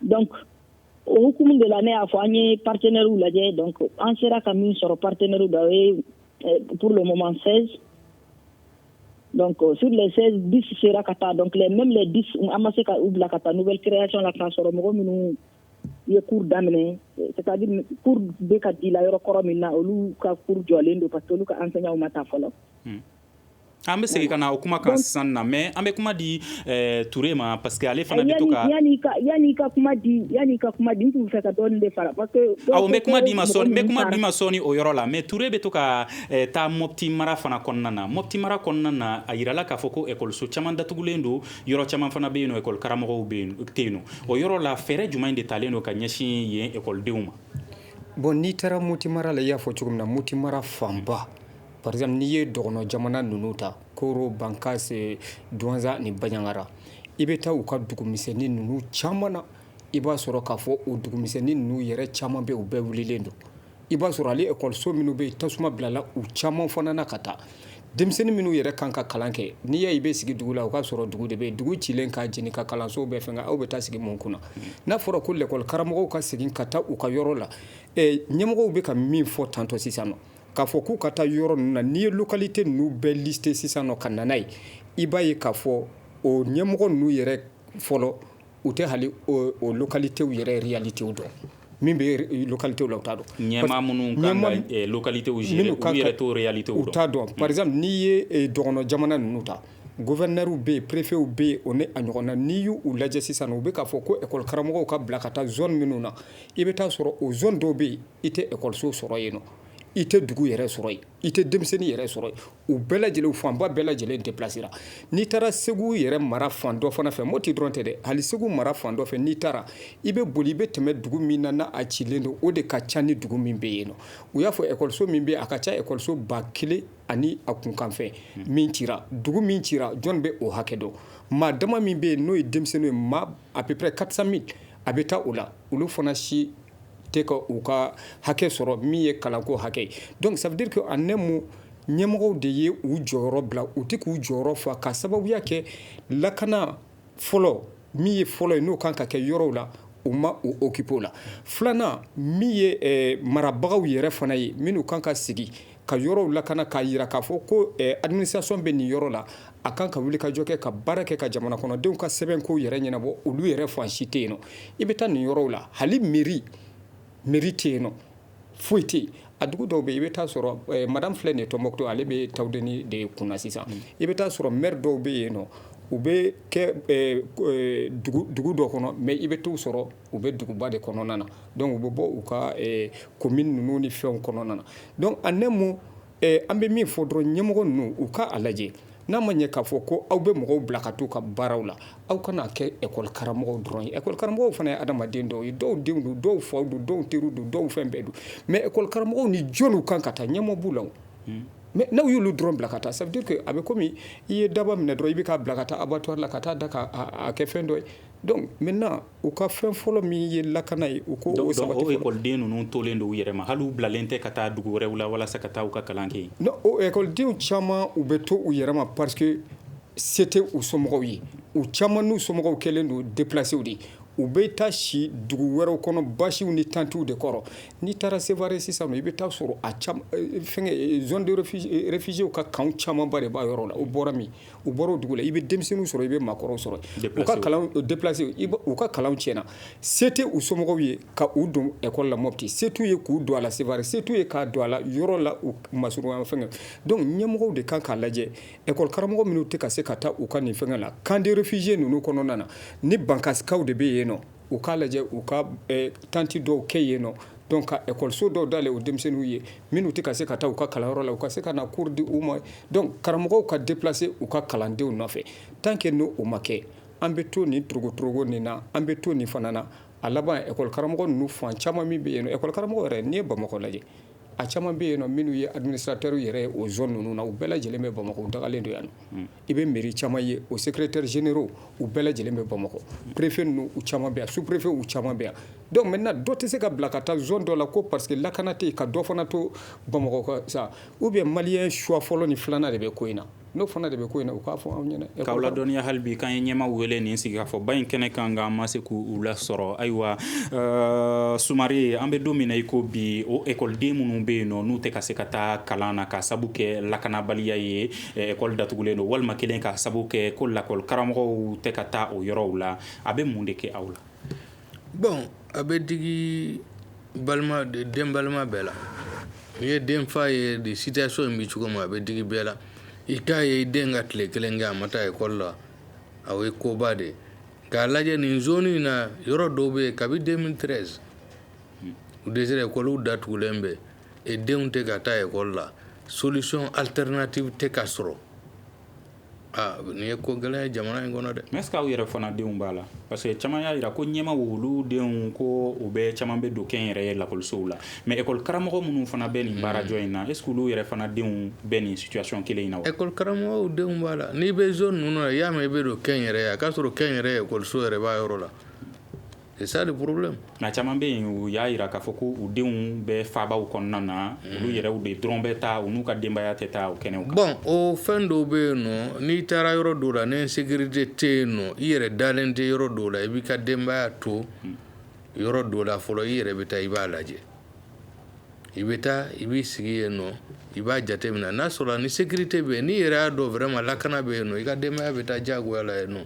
donc o hukumu de la ne y'a fɔ an ye partenaires lajɛ donc an sera ka min sɔrɔ partenaires la o ye pour le moment 16 Donc sur les 16 10 sera ka taa donc même les 10 an ma se ka u bila ka taa nouvelle création la k'a sɔrɔ mɔgɔ minnu ye cours daminɛ c'est à dire cours bɛ ka di la yɔrɔ kɔrɔ min na olu ka cours jɔlen don parce que olu ka enseignants ma taa fɔlɔ. Hmm. An bɛ segin ka na o kuma kan sisan na mais an bɛ kuma di eh, Ture ma parce que ale fana bɛ to ka yani ka yani ka kuma di yani ka kuma di n tun bɛ fɛ ka dɔɔni de fara parce que awɔ n bɛ kuma d'i ma sɔɔni n bɛ kuma d'i ma sɔɔni o yɔrɔ la mais Ture bɛ to ka Eh, taa mɔti mara fana kɔnɔna na mɔti mara kɔnɔna na a yirala k'a fɔ ko ekɔliso caman datugulen don yɔrɔ caman fana bɛ yen nɔ ekɔli karamɔgɔw tɛ yen nɔ o yɔrɔ la fɛɛrɛ jumɛn de talen don ka ɲɛsin yen ekɔlidenw ma bon n'i taara mɔti mara la i y'a fɔ cogo min na mɔti mara fanba par exemple n'i ye dɔgɔnɔ jamana ninnu ta koro bankase duwanza ni baɲangara i bɛ taa u ka dugumisɛnni ninnu caman na i b'a sɔrɔ k'a fɔ o dugumisɛnni ninnu yɛrɛ caman bɛ u bɛɛ wulilen don I b'a sɔrɔ hali ekɔliso minnu bɛ yen tasuma bilala u caman fana na ka taa denmisɛnnin minnu yɛrɛ kan ka kalan kɛ n'i y'a i bɛ sigi dugu la o k'a sɔrɔ dugu de bɛ yen dugu cilen ka jeni ka kalansow bɛɛ fɛnkɛ aw bɛ taa sigi mun kunna n'a fɔra ko lakɔli karamɔgɔw ka segin ka taa u ka yɔrɔ la ɲɛmɔgɔw bɛ ka min fɔ tantôt sisan k'a fɔ k'u ka taa yɔrɔ ninnu na n'i ye localité ninnu bɛɛ listé sisan ka na n'a ye i b'a ye k'a fɔ o ɲɛmɔgɔ ninnu yɛrɛ fɔlɔ u tɛ hali o localitéw yɛrɛ réalité dɔn min bɛ localitéw la u t'a dɔn ɲɛmaa minnu kan ka localitéw gérer u yɛrɛ t'o réalitéw dɔn u t'a dɔn par exemple n'i ye dɔgɔn jamana ninnu ta gouverneurw bɛ yen préfetw bɛ yen o n'a ɲɔgɔnna n'i y'u lajɛ sisan u bɛ k'a fɔ ko ekɔli karamɔgɔw ka bila ka taa zone minnu na i bɛ taa a sɔrɔ o zone dɔw bɛ yen i tɛ ekɔliso sɔrɔ yen i tɛ dugu yɛrɛ sɔrɔ yen i tɛ denmisɛnnin yɛrɛ sɔrɔ u bɛɛ lajɛlen fanba bɛɛ lajɛlen déplacera n'i taara segu yɛrɛ mara fan dɔ fana fɛ mɔti dɔrɔn tɛ dɛ hali segu mara fan dɔ fɛ n'i taara i bɛ boli i bɛ tɛmɛ dugu min na n'a a cilen don o de ka ca ni dugu min bɛ yen nɔ u y'a fɔ ekɔliso min bɛ a ka ca ekɔliso ba kelen ani a kunkanfɛ min cira dugu min cira jɔn bɛ o hakɛ dɔn maa dama min bɛ yen n'o ye denmisɛnninw ye maa à peu près quatre cent mille a bɛ taa o la olu fana si tɛ ka u ka hakɛ sɔrɔ min ye kalanko hakɛ ye donc ça veut dire que en un mot ɲɛmɔgɔw de ye u jɔyɔrɔ bila u tɛ k'u jɔyɔrɔ fa ka sababuya kɛ lakana fɔlɔ min ye fɔlɔ ye n'o kan ka kɛ yɔrɔw la u ma u occupé o la filanan min ye eh, marabagaw yɛrɛ fana ye minnu kan ka sigi ka yɔrɔw lakana k'a yira k'a fɔ ko eh, administration bɛ nin yɔrɔ la a kan ka wuli ka jɔ kɛ ka baara kɛ ka jamana kɔnɔdenw ka sɛbɛn kow yɛrɛ ɲɛnabɔ olu yɛrɛ fan si tɛ yen nɔ i bɛ taa nin yɔrɔw la hali meri meri tɛ yen nɔ foyi tɛ yen a dugu dɔw bɛ i bɛ taa sɔrɔ eh, madame filɛ nin ye tɔnbɔkutu ale bɛ tawudeni de kunna sisan mm. i bɛ taa sɔrɔ mɛri dɔw bɛ yen nɔ u bɛ kɛ eh, dugu dɔ kɔnɔ mais i bɛ t'u sɔrɔ u bɛ duguba de kɔnɔna na donc u bɛ bɔ u ka commune ninnu ni fɛnw kɔnɔna na donc en un mot an bɛ min fɔ dɔrɔn ɲɛmɔgɔ ninnu u k'a lajɛ n'a ma ɲɛ k'a fɔ ko aw bɛ mɔgɔw bila ka taa u ka baaraw la aw kana a kɛ ekɔli karamɔgɔw dɔrɔn ye ekɔli karamɔgɔw fana ye adama adamaden dɔw ye dɔw denw don dɔw faw don dɔw teriw don dɔw fɛn bɛɛ don mais ekɔli karamɔgɔw ni jɔnw kan ka taa ɲɛmɔgɔ b'u la mais n'aw y'olu dɔrɔn bila ka taa ça veut dire que a bɛ komi i ye daaba minɛ dɔrɔn i bɛ k'a bila ka taa abattoir la ka taa da k'a kɛ fɛn dɔ ye Donc maintenant u ka fɛn fɔlɔ min ye lakana ye u k'o sabati ekɔliden ninnu tolen don u yɛrɛ ma hali bilalen tɛ ka taa dugu wɛrɛw la walasa ka taa u ka kalan kɛ ekɔlidenw caman u bɛ to u yɛrɛ ma parce que se tɛ u somɔgɔw ye u caman n'u somɔgɔw kɛlen don déplacéw de u bɛ taa si dugu wɛrɛw kɔnɔ basiw ni tantiw de kɔrɔ n'i taara sevare sisan i bɛ taa sɔrɔ a fɛn réfugiéw ka camp camanba de b'a yɔrɔ la u bɔra min u bɔra o dugu la i bɛ denmisɛnninw sɔrɔ i bɛ maakɔrɔw sɔrɔ u ka kalan déplacé u ka kalan tiɲɛna se tɛ u somɔgɔw ye ka u don ekɔli la mɔti se t'u ye k'u don a la sevare se t'u ye k'a don a la yɔrɔ la u masurunna fɛ donc ɲɛmɔgɔw de kan k'a lajɛ ekɔli karamɔgɔ minnu tɛ ka se ka taa u ka nin fɛn la camp de réfugiés ninnu kɔnɔna na ni bankasikaw de bɛ yen nɔ u k'a lajɛ u ka tanti dɔw kɛ yen nɔ donc ka ekɔliso dɔw dayɛlɛ o denmisɛnninw ye minnu tɛ ka se ka taa u ka kalanyɔrɔ la u ka se ka na cours di u ma donc karamɔgɔw ka déplacer u ka kalandenw nɔfɛ tant que n'o ma kɛ an bɛ to nin torogotorogo nin na an bɛ to nin fana na a laban ekɔli karamɔgɔ ninnu fan caman min bɛ yen ekɔli karamɔgɔ yɛrɛ n'i ye bamakɔ lajɛ a caman bɛ yen minnu ye administrateur yɛrɛ ye zone ninnu na u bɛɛ lajɛlen bɛ bamakɔ dalen don yan I bɛ mairie caman ye o secrétaires généraux u bɛɛ lajɛlen bɛ bamakɔ préfet ninnu u caman bɛ yan sous-préfet u caman bɛ yan donc maintenant dɔ tɛ se ka bila ka taa zone dɔ la ko parce que lakana tɛ yen ka dɔ fana to bamakɔ sa ou bien malien choix fɔlɔ ni filanan de bɛ ko in na n'o fana de bɛ ko in na u k'a fɔ anw ɲɛna k'aw ladɔnniya hali bi k'an ye ɲɛmaa wele nin sigikafɔba in kɛnɛ kan nka an ma se k'u lasɔrɔ ayiwa Sumare an bɛ don min na i ko bi o ekɔliden minnu bɛ yen nɔ n'u tɛ ka se ka taa kalan na ka sabu kɛ lakanabaliya ye ekɔli datugulen don walima kelen ka sababu kɛ ko lakɔli karamɔgɔ tɛ ka taa o yɔrɔw la a bɛ mun de kɛ aw la bon a bɛ digi den balima bɛɛ la n'i ye denfa ye de situation in bɛ cogo min a bɛ digi bɛɛ la i k'a ye i den ka tile kelen kɛ a ma taa ekɔli la o ye koba de ye k'a lajɛ nin zone in na yɔrɔ dɔw bɛ yen kabi deux mille treize ekɔliw datugulen bɛ e denw tɛ ka taa ekɔli la solution alternative tɛ ka sɔrɔ aa nin ye ko gɛlɛn ye jamana in kɔnɔ dɛ mais est-ce que aw yɛrɛ fana denw b'a la parce que caman y'a jira ko ɲɛmaa olu denw ko u bɛɛ caman bɛ don kɛnyɛrɛye lakɔlisow la mais école karamɔgɔ minnu fana bɛ nin baarajɔ in na est-ce que olu yɛrɛ fana denw bɛ nin situation kelen in na wa école karamɔgɔw denw b'a la n'i bɛ zone ninnu na i y'a mɛn i bɛ don kɛnyɛrɛye a k'a sɔrɔ kɛnyɛrɛye ekɔliso yɛrɛ b'a yɔrɔ la C'est ça le problème nka caman bɛ yen u y'a jira k'a fɔ ko u denw bɛ faabaw kɔnɔna na olu yɛrɛw de dɔrɔn bɛ taa u n'u ka denbaya tɛ taa o kɛnɛw kan bon o fɛn dɔw bɛ yen nɔ n'i taara yɔrɔ dɔw la ni sécurité tɛ yen nɔ i yɛrɛ dalen tɛ yɔrɔ dɔw la i b'i ka denbaya to yɔrɔ dɔw la fɔlɔ i yɛrɛ bɛ taa i b'a lajɛ i bɛ taa i b'i sigi yen nɔ i b'a jateminɛ n'a sɔrɔ ni sécurité bɛ yen n'i yɛrɛ y'a dɔn vraiment lakana bɛ yen nɔ i ka denbaya bɛ taa diyagoya la yen nɔ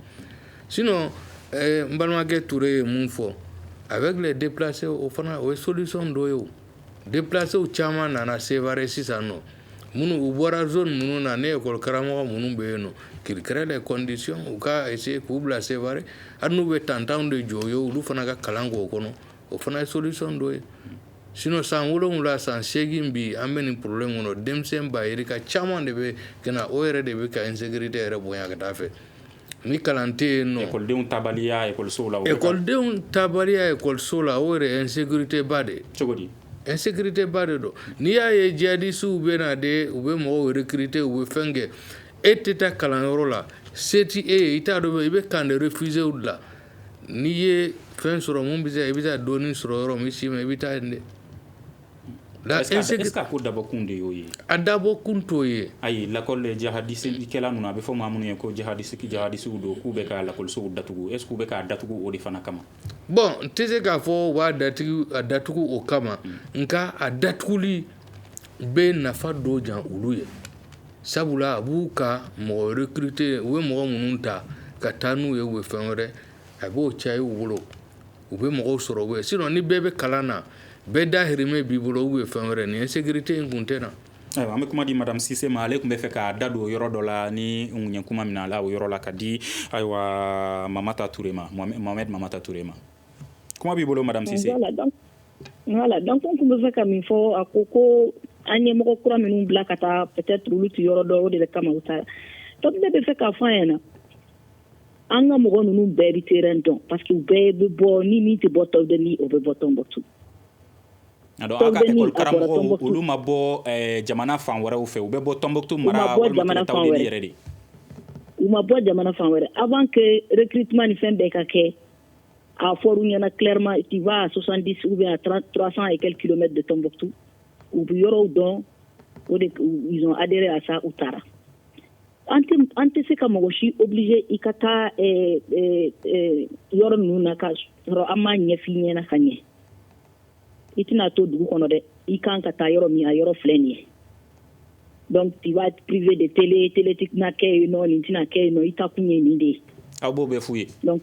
sinon n balimakɛ Ture ye min fɔ avec les déplacés o fana o ye solution dɔ ye déplacés caman nana Sévaré sisan nɔ minnu u bɔra zone ninnu na ni école karamɔgɔ minnu bɛ yen nɔ qu'ils créent des conditions u ka essayer k'u bila Sévaré hali n'u bɛ tantanw de jɔ ye olu fana ka kalan kɛ o kɔnɔ o fana ye solution dɔ ye sinon san wolonwula san segin bi an bɛ nin problème kɔnɔ denmisɛnnin ba yirika caman de bɛ ka o yɛrɛ de bɛ ka insécurité yɛrɛ bonya ka taa fɛ Ni kalan tɛ yen nɔ ekɔlidenw taabaliya ekɔliso la ekɔlidenw taabaliya ekɔliso la o yɛrɛ insécurité ba de cogo di insécurité ba de don n'i y'a ye djihadistew bɛ na de u bɛ mɔgɔw recruter u bɛ fɛn kɛ e tɛ taa kalanyɔrɔ la se tɛ e ye i t'a dɔn i bɛ camp de réfugiés la n'i ye fɛn sɔrɔ min bɛ se i bɛ taa dɔɔnin sɔrɔ yɔrɔ min si ma i bɛ taa yen dɛ La- Est-ce que- est-ce que- est-ce que a ko dabɔkun de y'o ye a dabɔkun t'o ye ayi lakɔli jahadisikɛla ninnu a bɛ fɔ maa minnu ye ko jahadisi jahadisiw don k'u bɛ ka lakɔlisow datugu est-ce que u bɛ k'a datugu o de fana kama bon n tɛ se k'a fɔ u b'a datugu a datugu o kama nka a datuguli bɛ nafa dɔ jan olu ye sabula a b'u ka mɔgɔ recruter u bɛ mɔgɔ minnu ta ka taa n'u ye u bɛ fɛn wɛrɛ a b'o caya u bolo u bɛ mɔgɔw sɔrɔ u sinon ni bɛɛ bɛ kalan na bɛɛ dahirimɛ b'i bolo u bɛ fɛn wɛrɛ ni insécurité in kun tɛ na an bɛ kuma di madame Cissé ma ale tun bɛ fɛ k'a da don o yɔrɔ dɔ la ni n ye kuma minɛ a la o yɔrɔ la ka di ayiwa Mamata Ture ma Mohamed Mamata Ture ma kuma b'i bolo madame Cissé voilà donc n tun bɛ fɛ ka min fɔ a ko ko an ye mɔgɔ kura minnu bila ka taa peut-être olu tɛ yɔrɔ dɔn o de kama u taara donc n bɛ fɛ k'a fɔ ɲɛna na an ka mɔgɔ ninnu bɛɛ bɛ terrain dɔn parce que u bɛɛ bɛ bɔ ni min tɛ bɔ Tawdeni o bɛ bɔ Tɔnbɔkutu. Donc aw ka école karamɔgɔw olu ma bɔ eh, jamana fan wɛrɛw fɛ u bɛ bɔ Tɔnbɔkutu mara walima tere Tawdeni yɛrɛ de. U ma bɔ jamana fan wɛrɛ avant que recrutement ni fɛn bɛɛ ka kɛ a fɔra u ɲɛna clairement tu vas à 70 ou bien à 30 300 et quelques kilomètres de Tɔnbɔkutu u bɛ yɔrɔw dɔn o de ils ont adhéré à ça u taara. an tɛ an tɛ se ka mɔgɔ si obliger i ka taa ɛɛ ɛɛ ɛɛ yɔrɔ ninnu na ka sɔrɔ an m'a ɲɛf'i ɲɛna ka ɲɛ i tɛna to dugu kɔnɔ dɛ i kan ka taa yɔrɔ min a yɔrɔ filɛ nin ye donc tu vas être privé de télé télé tɛna kɛ yen nɔ nin tɛna kɛ yen nɔ i taa kun ye nin de ye aw b'o bɛɛ f'u ye donc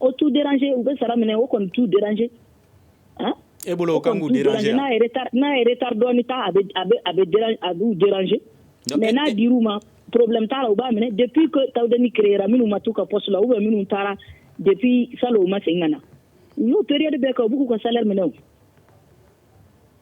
o t'u déranger u bɛ sara minɛ o kɔni t'u déranger han, e bolo o kan k'u déranger wa, n'a ye retard n'a ye retard dɔɔnin ta a bɛ a bɛ a bɛ déranger a b'u déranger mais n'a dir'u ma problème t'a la u b'a minɛ depuis que Tawudeni créer ra minnu ma t'u ka poste la ou bien minnu taara depuis salon u ma segin ka na u y'o période bɛɛ kɛ u b'u k'u ka salaire minɛ o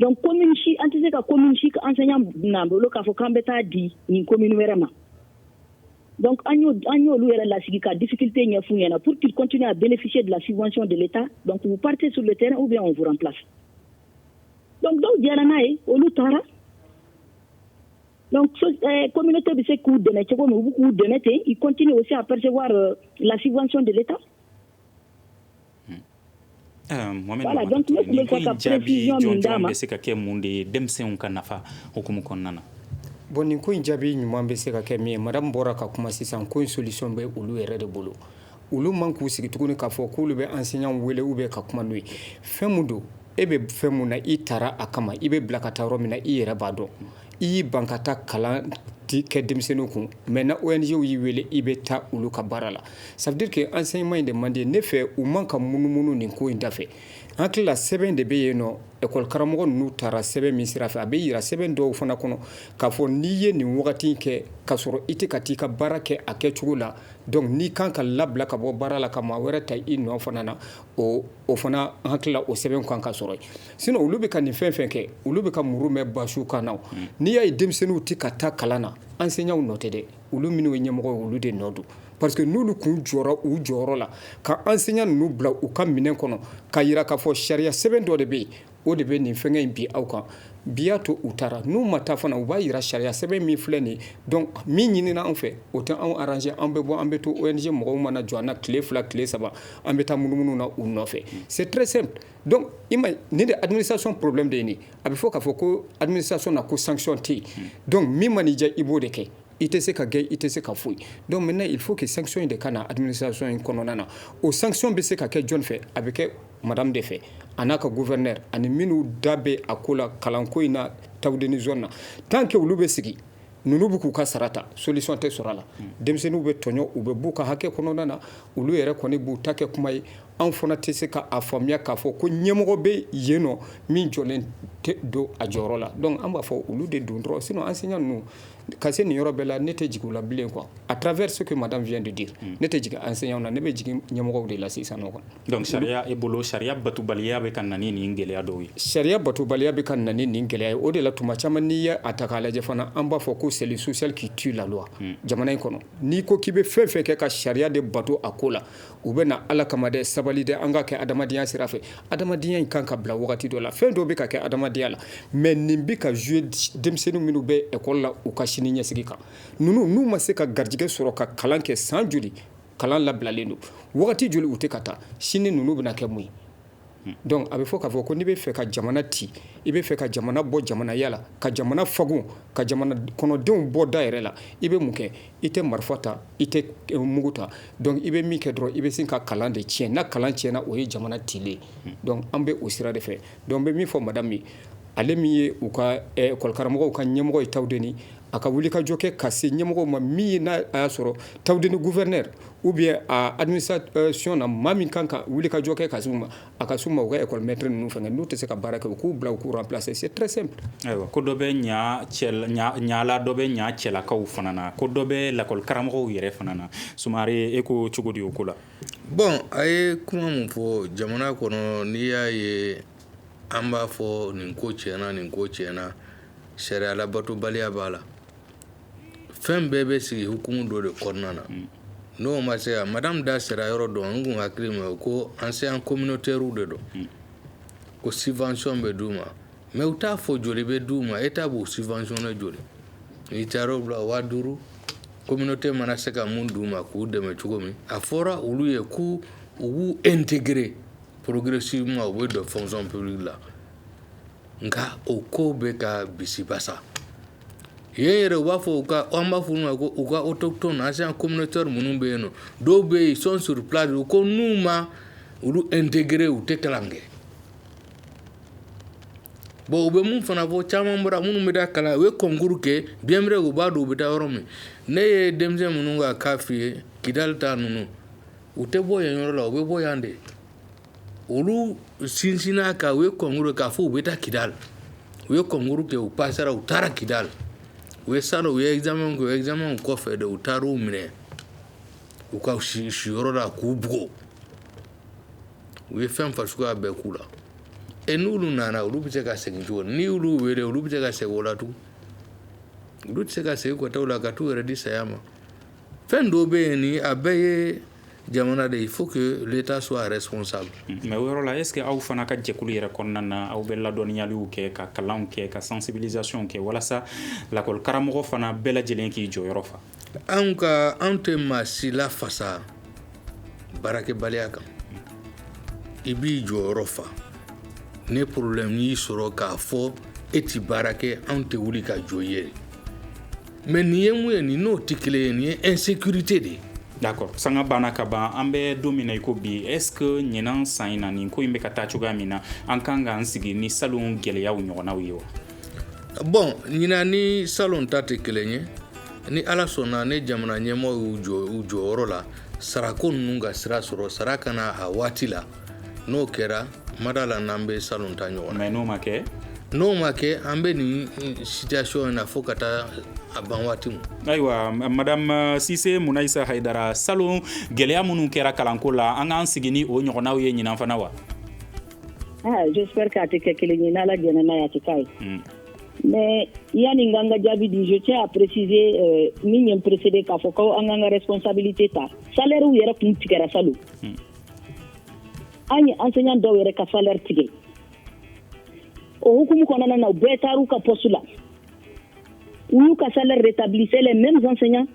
dɔnku ko si an tɛ se ka ko si an fɛ'an bolo k'a fɔ k'an bɛ taa di nin ko minnu wɛrɛ ma an y'olu yɛrɛ lasigi ka dikite ɲɛ fun ɲɛna pur quekun a bɛsi bilac de tan dɔnku pate su tɛ u bɛ anwf fila dɔnku dɔw jɛra n'a ye olu taara komte bɛ se k'u dɛmɛ cogo min u bɛ k'u dɛmɛ ten i kɔnt o se a pase lasifasi de bɛ taa Bɛ se ka kɛ mun de ye denmisɛnw ka nafa hukumu kɔnɔna na bon nin ko in jaabi ɲuman bɛ se ka kɛ min ye madame bɔra ka kuma sisan ko in solution bɛ olu yɛrɛ de bolo olu man k'u sigi tuguni k'a fɔ k'olu bɛ enseignant wele ou bien ka kuma n'u ye fɛn mun don e bɛ fɛn mun na i taara a kama i bɛ bila ka taa yɔrɔ min na i yɛrɛ b'a dɔn I y'i ban ka taa kalan kɛ denmisɛnninw kun maintenant ONG y'i wele i bɛ taa olu ka baara la ça veut dire que enseignement in de man di ne fɛ u man ka munumunu nin ko in dafɛ an hakili la sɛbɛn de bɛ yen nɔ école karamɔgɔ ninnu tara sɛbɛn min sira fɛ a bɛ jira sɛbɛn dɔw fana kɔnɔ k'a fɔ n'i ye nin wagati in kɛ k'a sɔrɔ i tɛ ka taa i ka baara kɛ a kɛcogo la donc n'i kan ka labila ka bɔ baara la ka maa wɛrɛ ta i nɔ fana na o fana an hakili la o sɛbɛn kan ka sɔrɔ yen sinon olu bɛ ka nin fɛn fɛn kɛ olu bɛ ka muru mɛn basiw kan na n'i y'a ye denmisɛnninw tɛ ka taa kalan na enseignants nɔ tɛ dɛ olu minnu ye ɲɛmɔgɔ ye olu de nɔ don parce que n'olu kun jɔra u jɔyɔrɔ la ka enseignant ninnu bila u ka minɛn kɔnɔ ka jira k'a fɔ sariya sɛbɛn dɔ de bɛ yen o de bɛ nin fɛnkɛ in bi aw kan bi y'a to u taara n'u ma taa fana u b'a jira sariya sɛbɛn min filɛ nin donc min ɲinina anw fɛ o tɛ anw arranger an bɛ bɔ an bɛ to ONG mɔgɔw mana jɔ an na tile fila tile saba an bɛ taa munumunu na u nɔfɛ c'est très simple Donc i ma ye nin de ye administration problème de ye nin ye a bɛ fɔ k'a fɔ ko administration na ko sanction tɛ yen donc min man'i diya i b'o de kɛ i tɛ se ka gɛn i tɛ se ka foyi donc maintenant il faut que sanction in de ka na administration in kɔnɔna na o sanction bɛ se ka kɛ jɔni fɛ a bɛ kɛ madame de fɛ a n'a ka gouverneur ani minnu da bɛ a ko la kalanko in na Tawudeni zone na tant que olu bɛ sigi ninnu bɛ k'u ka sara ta solution tɛ sɔrɔ a la hmm. denmisɛnninw bɛ tɔɲɔ u bɛ b'u ka hakɛ kɔnɔna na olu yɛrɛ kɔni b'u ta kɛ kuma ye anw fana tɛ se k'a faamuya k'a fɔ ko ɲɛmɔgɔ bɛ yen nɔ min jɔlen tɛ don a jɔyɔrɔ la donc an b'a fɔ olu de don dɔrɔn sinon enseignant ninnu ka se nin yɔrɔ bɛɛ la ne tɛ jigin u la bilen quoi à travers ce que madame vient de dire hmm. ne tɛ jigin enseignant na ne bɛ jigin ɲɛmɔgɔw de la sisan nɔ Donc sariya e bolo sariya batobaliya bɛ ka na ni nin gɛlɛya dɔw ye? Sariya batobaliya bɛ ka na ni nin gɛlɛya ye, o de la tuma caman n'i ye a ta k'a lajɛ fana, an b'a fɔ ko c'est le social qui tue la loi unhun, jamana in kɔnɔ, n'i ko k'i bɛ fɛn o fɛn kɛ ka sariya de bato a ko la, u bɛ na Ala kama dɛ, sabali dɛ, an ka kɛ adamadenya sira fɛ, adamadenya in kan ka bila wagati dɔ la, fɛn dɔw bɛ ka kɛ adamadenya la mais nin bɛ ka jouer denmisɛnnin minnu bɛ école la u ka sini ɲɛsigi kan, ninnu n'u ma se ka garijɛgɛ sɔrɔ ka kalan kɛ san joli kalan labilalen don wagati joli u tɛ ka taa sini ninnu bɛna kɛ mun ye hmm. donc a bɛ fɔ k'a fɔ ko n'i bɛ fɛ ka jamana ci i bɛ fɛ ka jamana bɔ jamanaya la ka jamana fagun ka jamana kɔnɔdenw bɔ da yɛrɛ la i bɛ mun kɛ i tɛ marifa ta i tɛ eh, mugu ta donc i bɛ min kɛ dɔrɔn i bɛ sin ka kalan de tiɲɛ n'a kalan tiɲɛna o ye jamana cilen hmm. donc an bɛ o sira de fɛ donc n bɛ min fɔ madame ye ale min ye u ka école karamɔgɔw ka ɲɛmɔgɔ ye Tawudeni A ka wuli ka jɔ kɛ ka se ɲɛmɔgɔ ma min ye n'a y'a sɔrɔ Tawudeni gouverneur ou bien a administration na maa min kan ka wuli ka jɔ kɛ ka s'u ma a ka s'u ma u ka école maître ninnu fɛnkɛ n'u tɛ se ka baara kɛ u k'u bila u k'u remplacer c'est très simple ayiwa ko dɔ bɛ ɲala dɔ bɛ ɲa cɛlakaw fana na ko dɔ bɛ lakɔlikaramɔgɔ yɛrɛ fana na Sumare e ko cogo di o ko la bon a ye kuma min fɔ jamana kɔnɔ n'i y'a ye an b'a fɔ nin ko tiɲɛna nin ko tiɲɛna sariya labatobaliya b'a la fɛn bɛɛ bɛ sigi hukumu dɔ de kɔnɔna na n'o ma se yan madame da sera yɔrɔ dɔ n kun hakili ma ko enseignant communautairew de don ko subvention bɛ d'u ma mais u t'a fɔ joli bɛ d'u ma état b'u subventionner joli n'i taara u la waa duuru communauté mana se ka mun d'u ma k'u dɛmɛ cogo min a fɔra olu ye ko u b'u intégrer progressivement u bɛ don fonction publique la nka o ko bɛ ka bisimilabasa ye yɛrɛ u b'a fɔ u ka an b'a fɔ olu ma ko u ka autochtone enseignant communautaire minnu bɛ yen nɔ dɔw bɛ yen ils sont sur place ko n'u ma olu intégrer u tɛ kalan kɛ bon u bɛ min fana fɔ caman bɔra minnu bɛ taa kalan u ye concours kɛ bien vrai u b'a dɔn u bɛ taa yɔrɔ min ne ye denmisɛn minnu ka cas f'i ye kidali ta ninnu u tɛ bɔ yen yɔrɔ la u bɛ bɔ yan de olu sinsinna ka u ye concours k'a fɔ u bɛ taa kidali u ye concours kɛ u passera u taara kidali u ye salon u ye examen kɛ examen kɔfɛ de u taara u minɛ u ka siyɔrɔ la k'u bugɔ u ye fɛn fa suguya bɛɛ k'u la ɛ n'olu nana olu bɛ se ka segin cogo ni olu wele olu bɛ se ka segin o la tugun olu tɛ se ka segin kɔtaw la ka taa u yɛrɛ di saya ma fɛn dɔw bɛ yen nin a bɛɛ ye jamana de il faut que l'état soit responsable mais o yɔrɔ la est ce que aw fana ka jɛkulu yɛrɛ kɔnɔna na aw bɛ ladɔnniyaliw kɛ ka kalanw kɛ ka sensibilisation kɛ walasa lakɔli karamɔgɔ fana bɛɛ lajɛlen k'i jɔyɔrɔ fa anw ka anw tɛ maa si lafasa baarakɛbaliya kan i b'i jɔyɔrɔ fa ni problème y'i sɔrɔ k'a fɔ e ti baara kɛ anw tɛ wuli ka jɔ i ye mais nin ye mun ye nin n'o tɛ kelen ye nin ye insécurité de ye d'accord sanga banna ka ban an bɛ don min na i ko bi est ce que ɲinan san in na nin ko in bɛ ka taa cogoya min na an kan k'an sigi ni salon gɛlɛyaw ɲɔgɔnnaw ye wa bon ɲinan ni salon ta tɛ kelen ye ni ala sɔnna ni jamana ɲɛmɔgɔ y'u jɔ u jɔyɔrɔ la sarako ninnu ka sira sɔrɔ sara ka na a waati la n'o kɛra n ma d'a la n'an bɛ salon ta ɲɔgɔn na mais n'o ma kɛ n'o ma kɛ an bɛ nin situation in na fo ka taa a ban waati min ayiwa madame sise munayisa hayidara salon gɛlɛya minnu kɛra kalanko la an k'an sigi ni o ɲɔgɔnnaw ye ɲinan fana wa j'espère k'a tɛ kɛ kelen ye n'ala jɛnna n'a ye a tɛ k'a ye mais yanni n ka jaabi di je tiens à préciser min ye n précéder k'a fɔ ko an k'an ka responsabilité ta salaire yɛrɛ tun tigɛra sa an ye enseignant dɔw yɛrɛ ka salaire tigɛ o hukumu kɔnɔna na u bɛɛ taar'u ka poste la u y'u ka salaire rétabli c'est les mêmes enseignants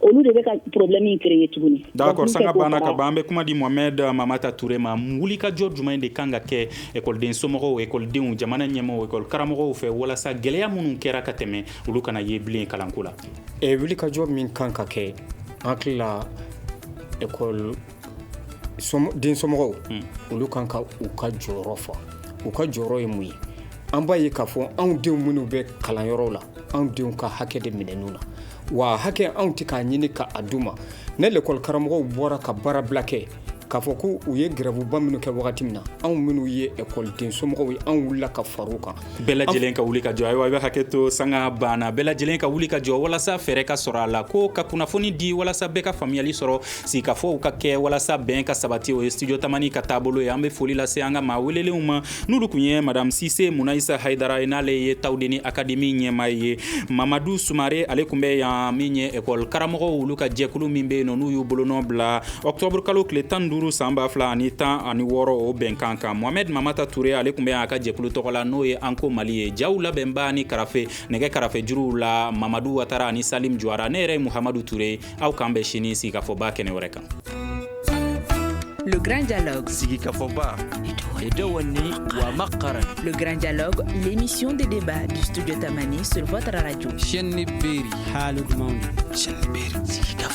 olu de bɛ ka problème in créer tuguni d'accord sanga banna ka ban an bɛ kuma di mohamed mamata ture ma wulikajɔ jumɛn de kan ka kɛ ekɔliden somɔgɔw ekɔlidenw jamana ɲɛmɔgɔw ekɔli karamɔgɔw fɛ walasa gɛlɛya minnu kɛra ka tɛmɛ olu kana ye bilen kalanko la eh, wulikajɔ min kan ka kɛ an hakili la ekɔli den somɔgɔw olu kan ka u ka jɔyɔrɔ fa u ka jɔyɔrɔ ye mun ye an b'a ye k'a fɔ anw denw minnu bɛ kalanyɔrɔw la anw denw ka hakɛ de minɛn'u na wa hakɛ anw tɛ k'a ɲini k'a d'u ma ni lekɔli karamɔgɔw bɔra ka baara bila kɛ k'a fɔ ko u ye grèveba minnu kɛ wagati min na anw minnu ye ekɔli den somɔgɔw ye anw wulila ka far'u kan bɛɛ lajɛlen ka wuli ka jɔ ayiwa i bɛ hakɛ to sanga banna bɛɛ lajɛlen ka wuli ka jɔ walasa fɛɛrɛ ka sɔrɔ a la ko ka kunnafoni di walasa bɛɛ ka faamuyali sɔrɔ sigikafɔw ka kɛ walasa bɛn ka sabati o ye studio tamani ka taabolo ye an bɛ foli lase an ka maa welelenw ma n'olu kun ye madame sise munayisa hayidara ye n'ale ye tawudeni akademi ɲɛmaa ye mamadu sumare ale kun bɛ yan min ye ekɔli karamɔgɔw olu ka jɛkulu min bɛ yen nɔ n'u y'u bolonɔ bila Octobre kalo tile tan ni duuru san ba fila ani tan ani wɔɔrɔ o bɛnkan kan mohamɛd mamata ture ale kun bɛ yan a ka jɛkulu tɔgɔ la n'o ye anko mali ye jaw labɛnba ni karafe nɛgɛ karafe juruw la mamadu watara ani salim juwara ne yɛrɛ ye muhamadu ture aw k'an bɛn sini sigikafɔba kɛnɛ wɛrɛ kan Le Grand Dialogue. Sigikafɔba. Edewani wa makara. Le Grand Dialogue, l'émission de débat du studio Tamani sur votre radio. Chaîne Beri. Halud Maun. Chaîne Beri. Sigikafɔba.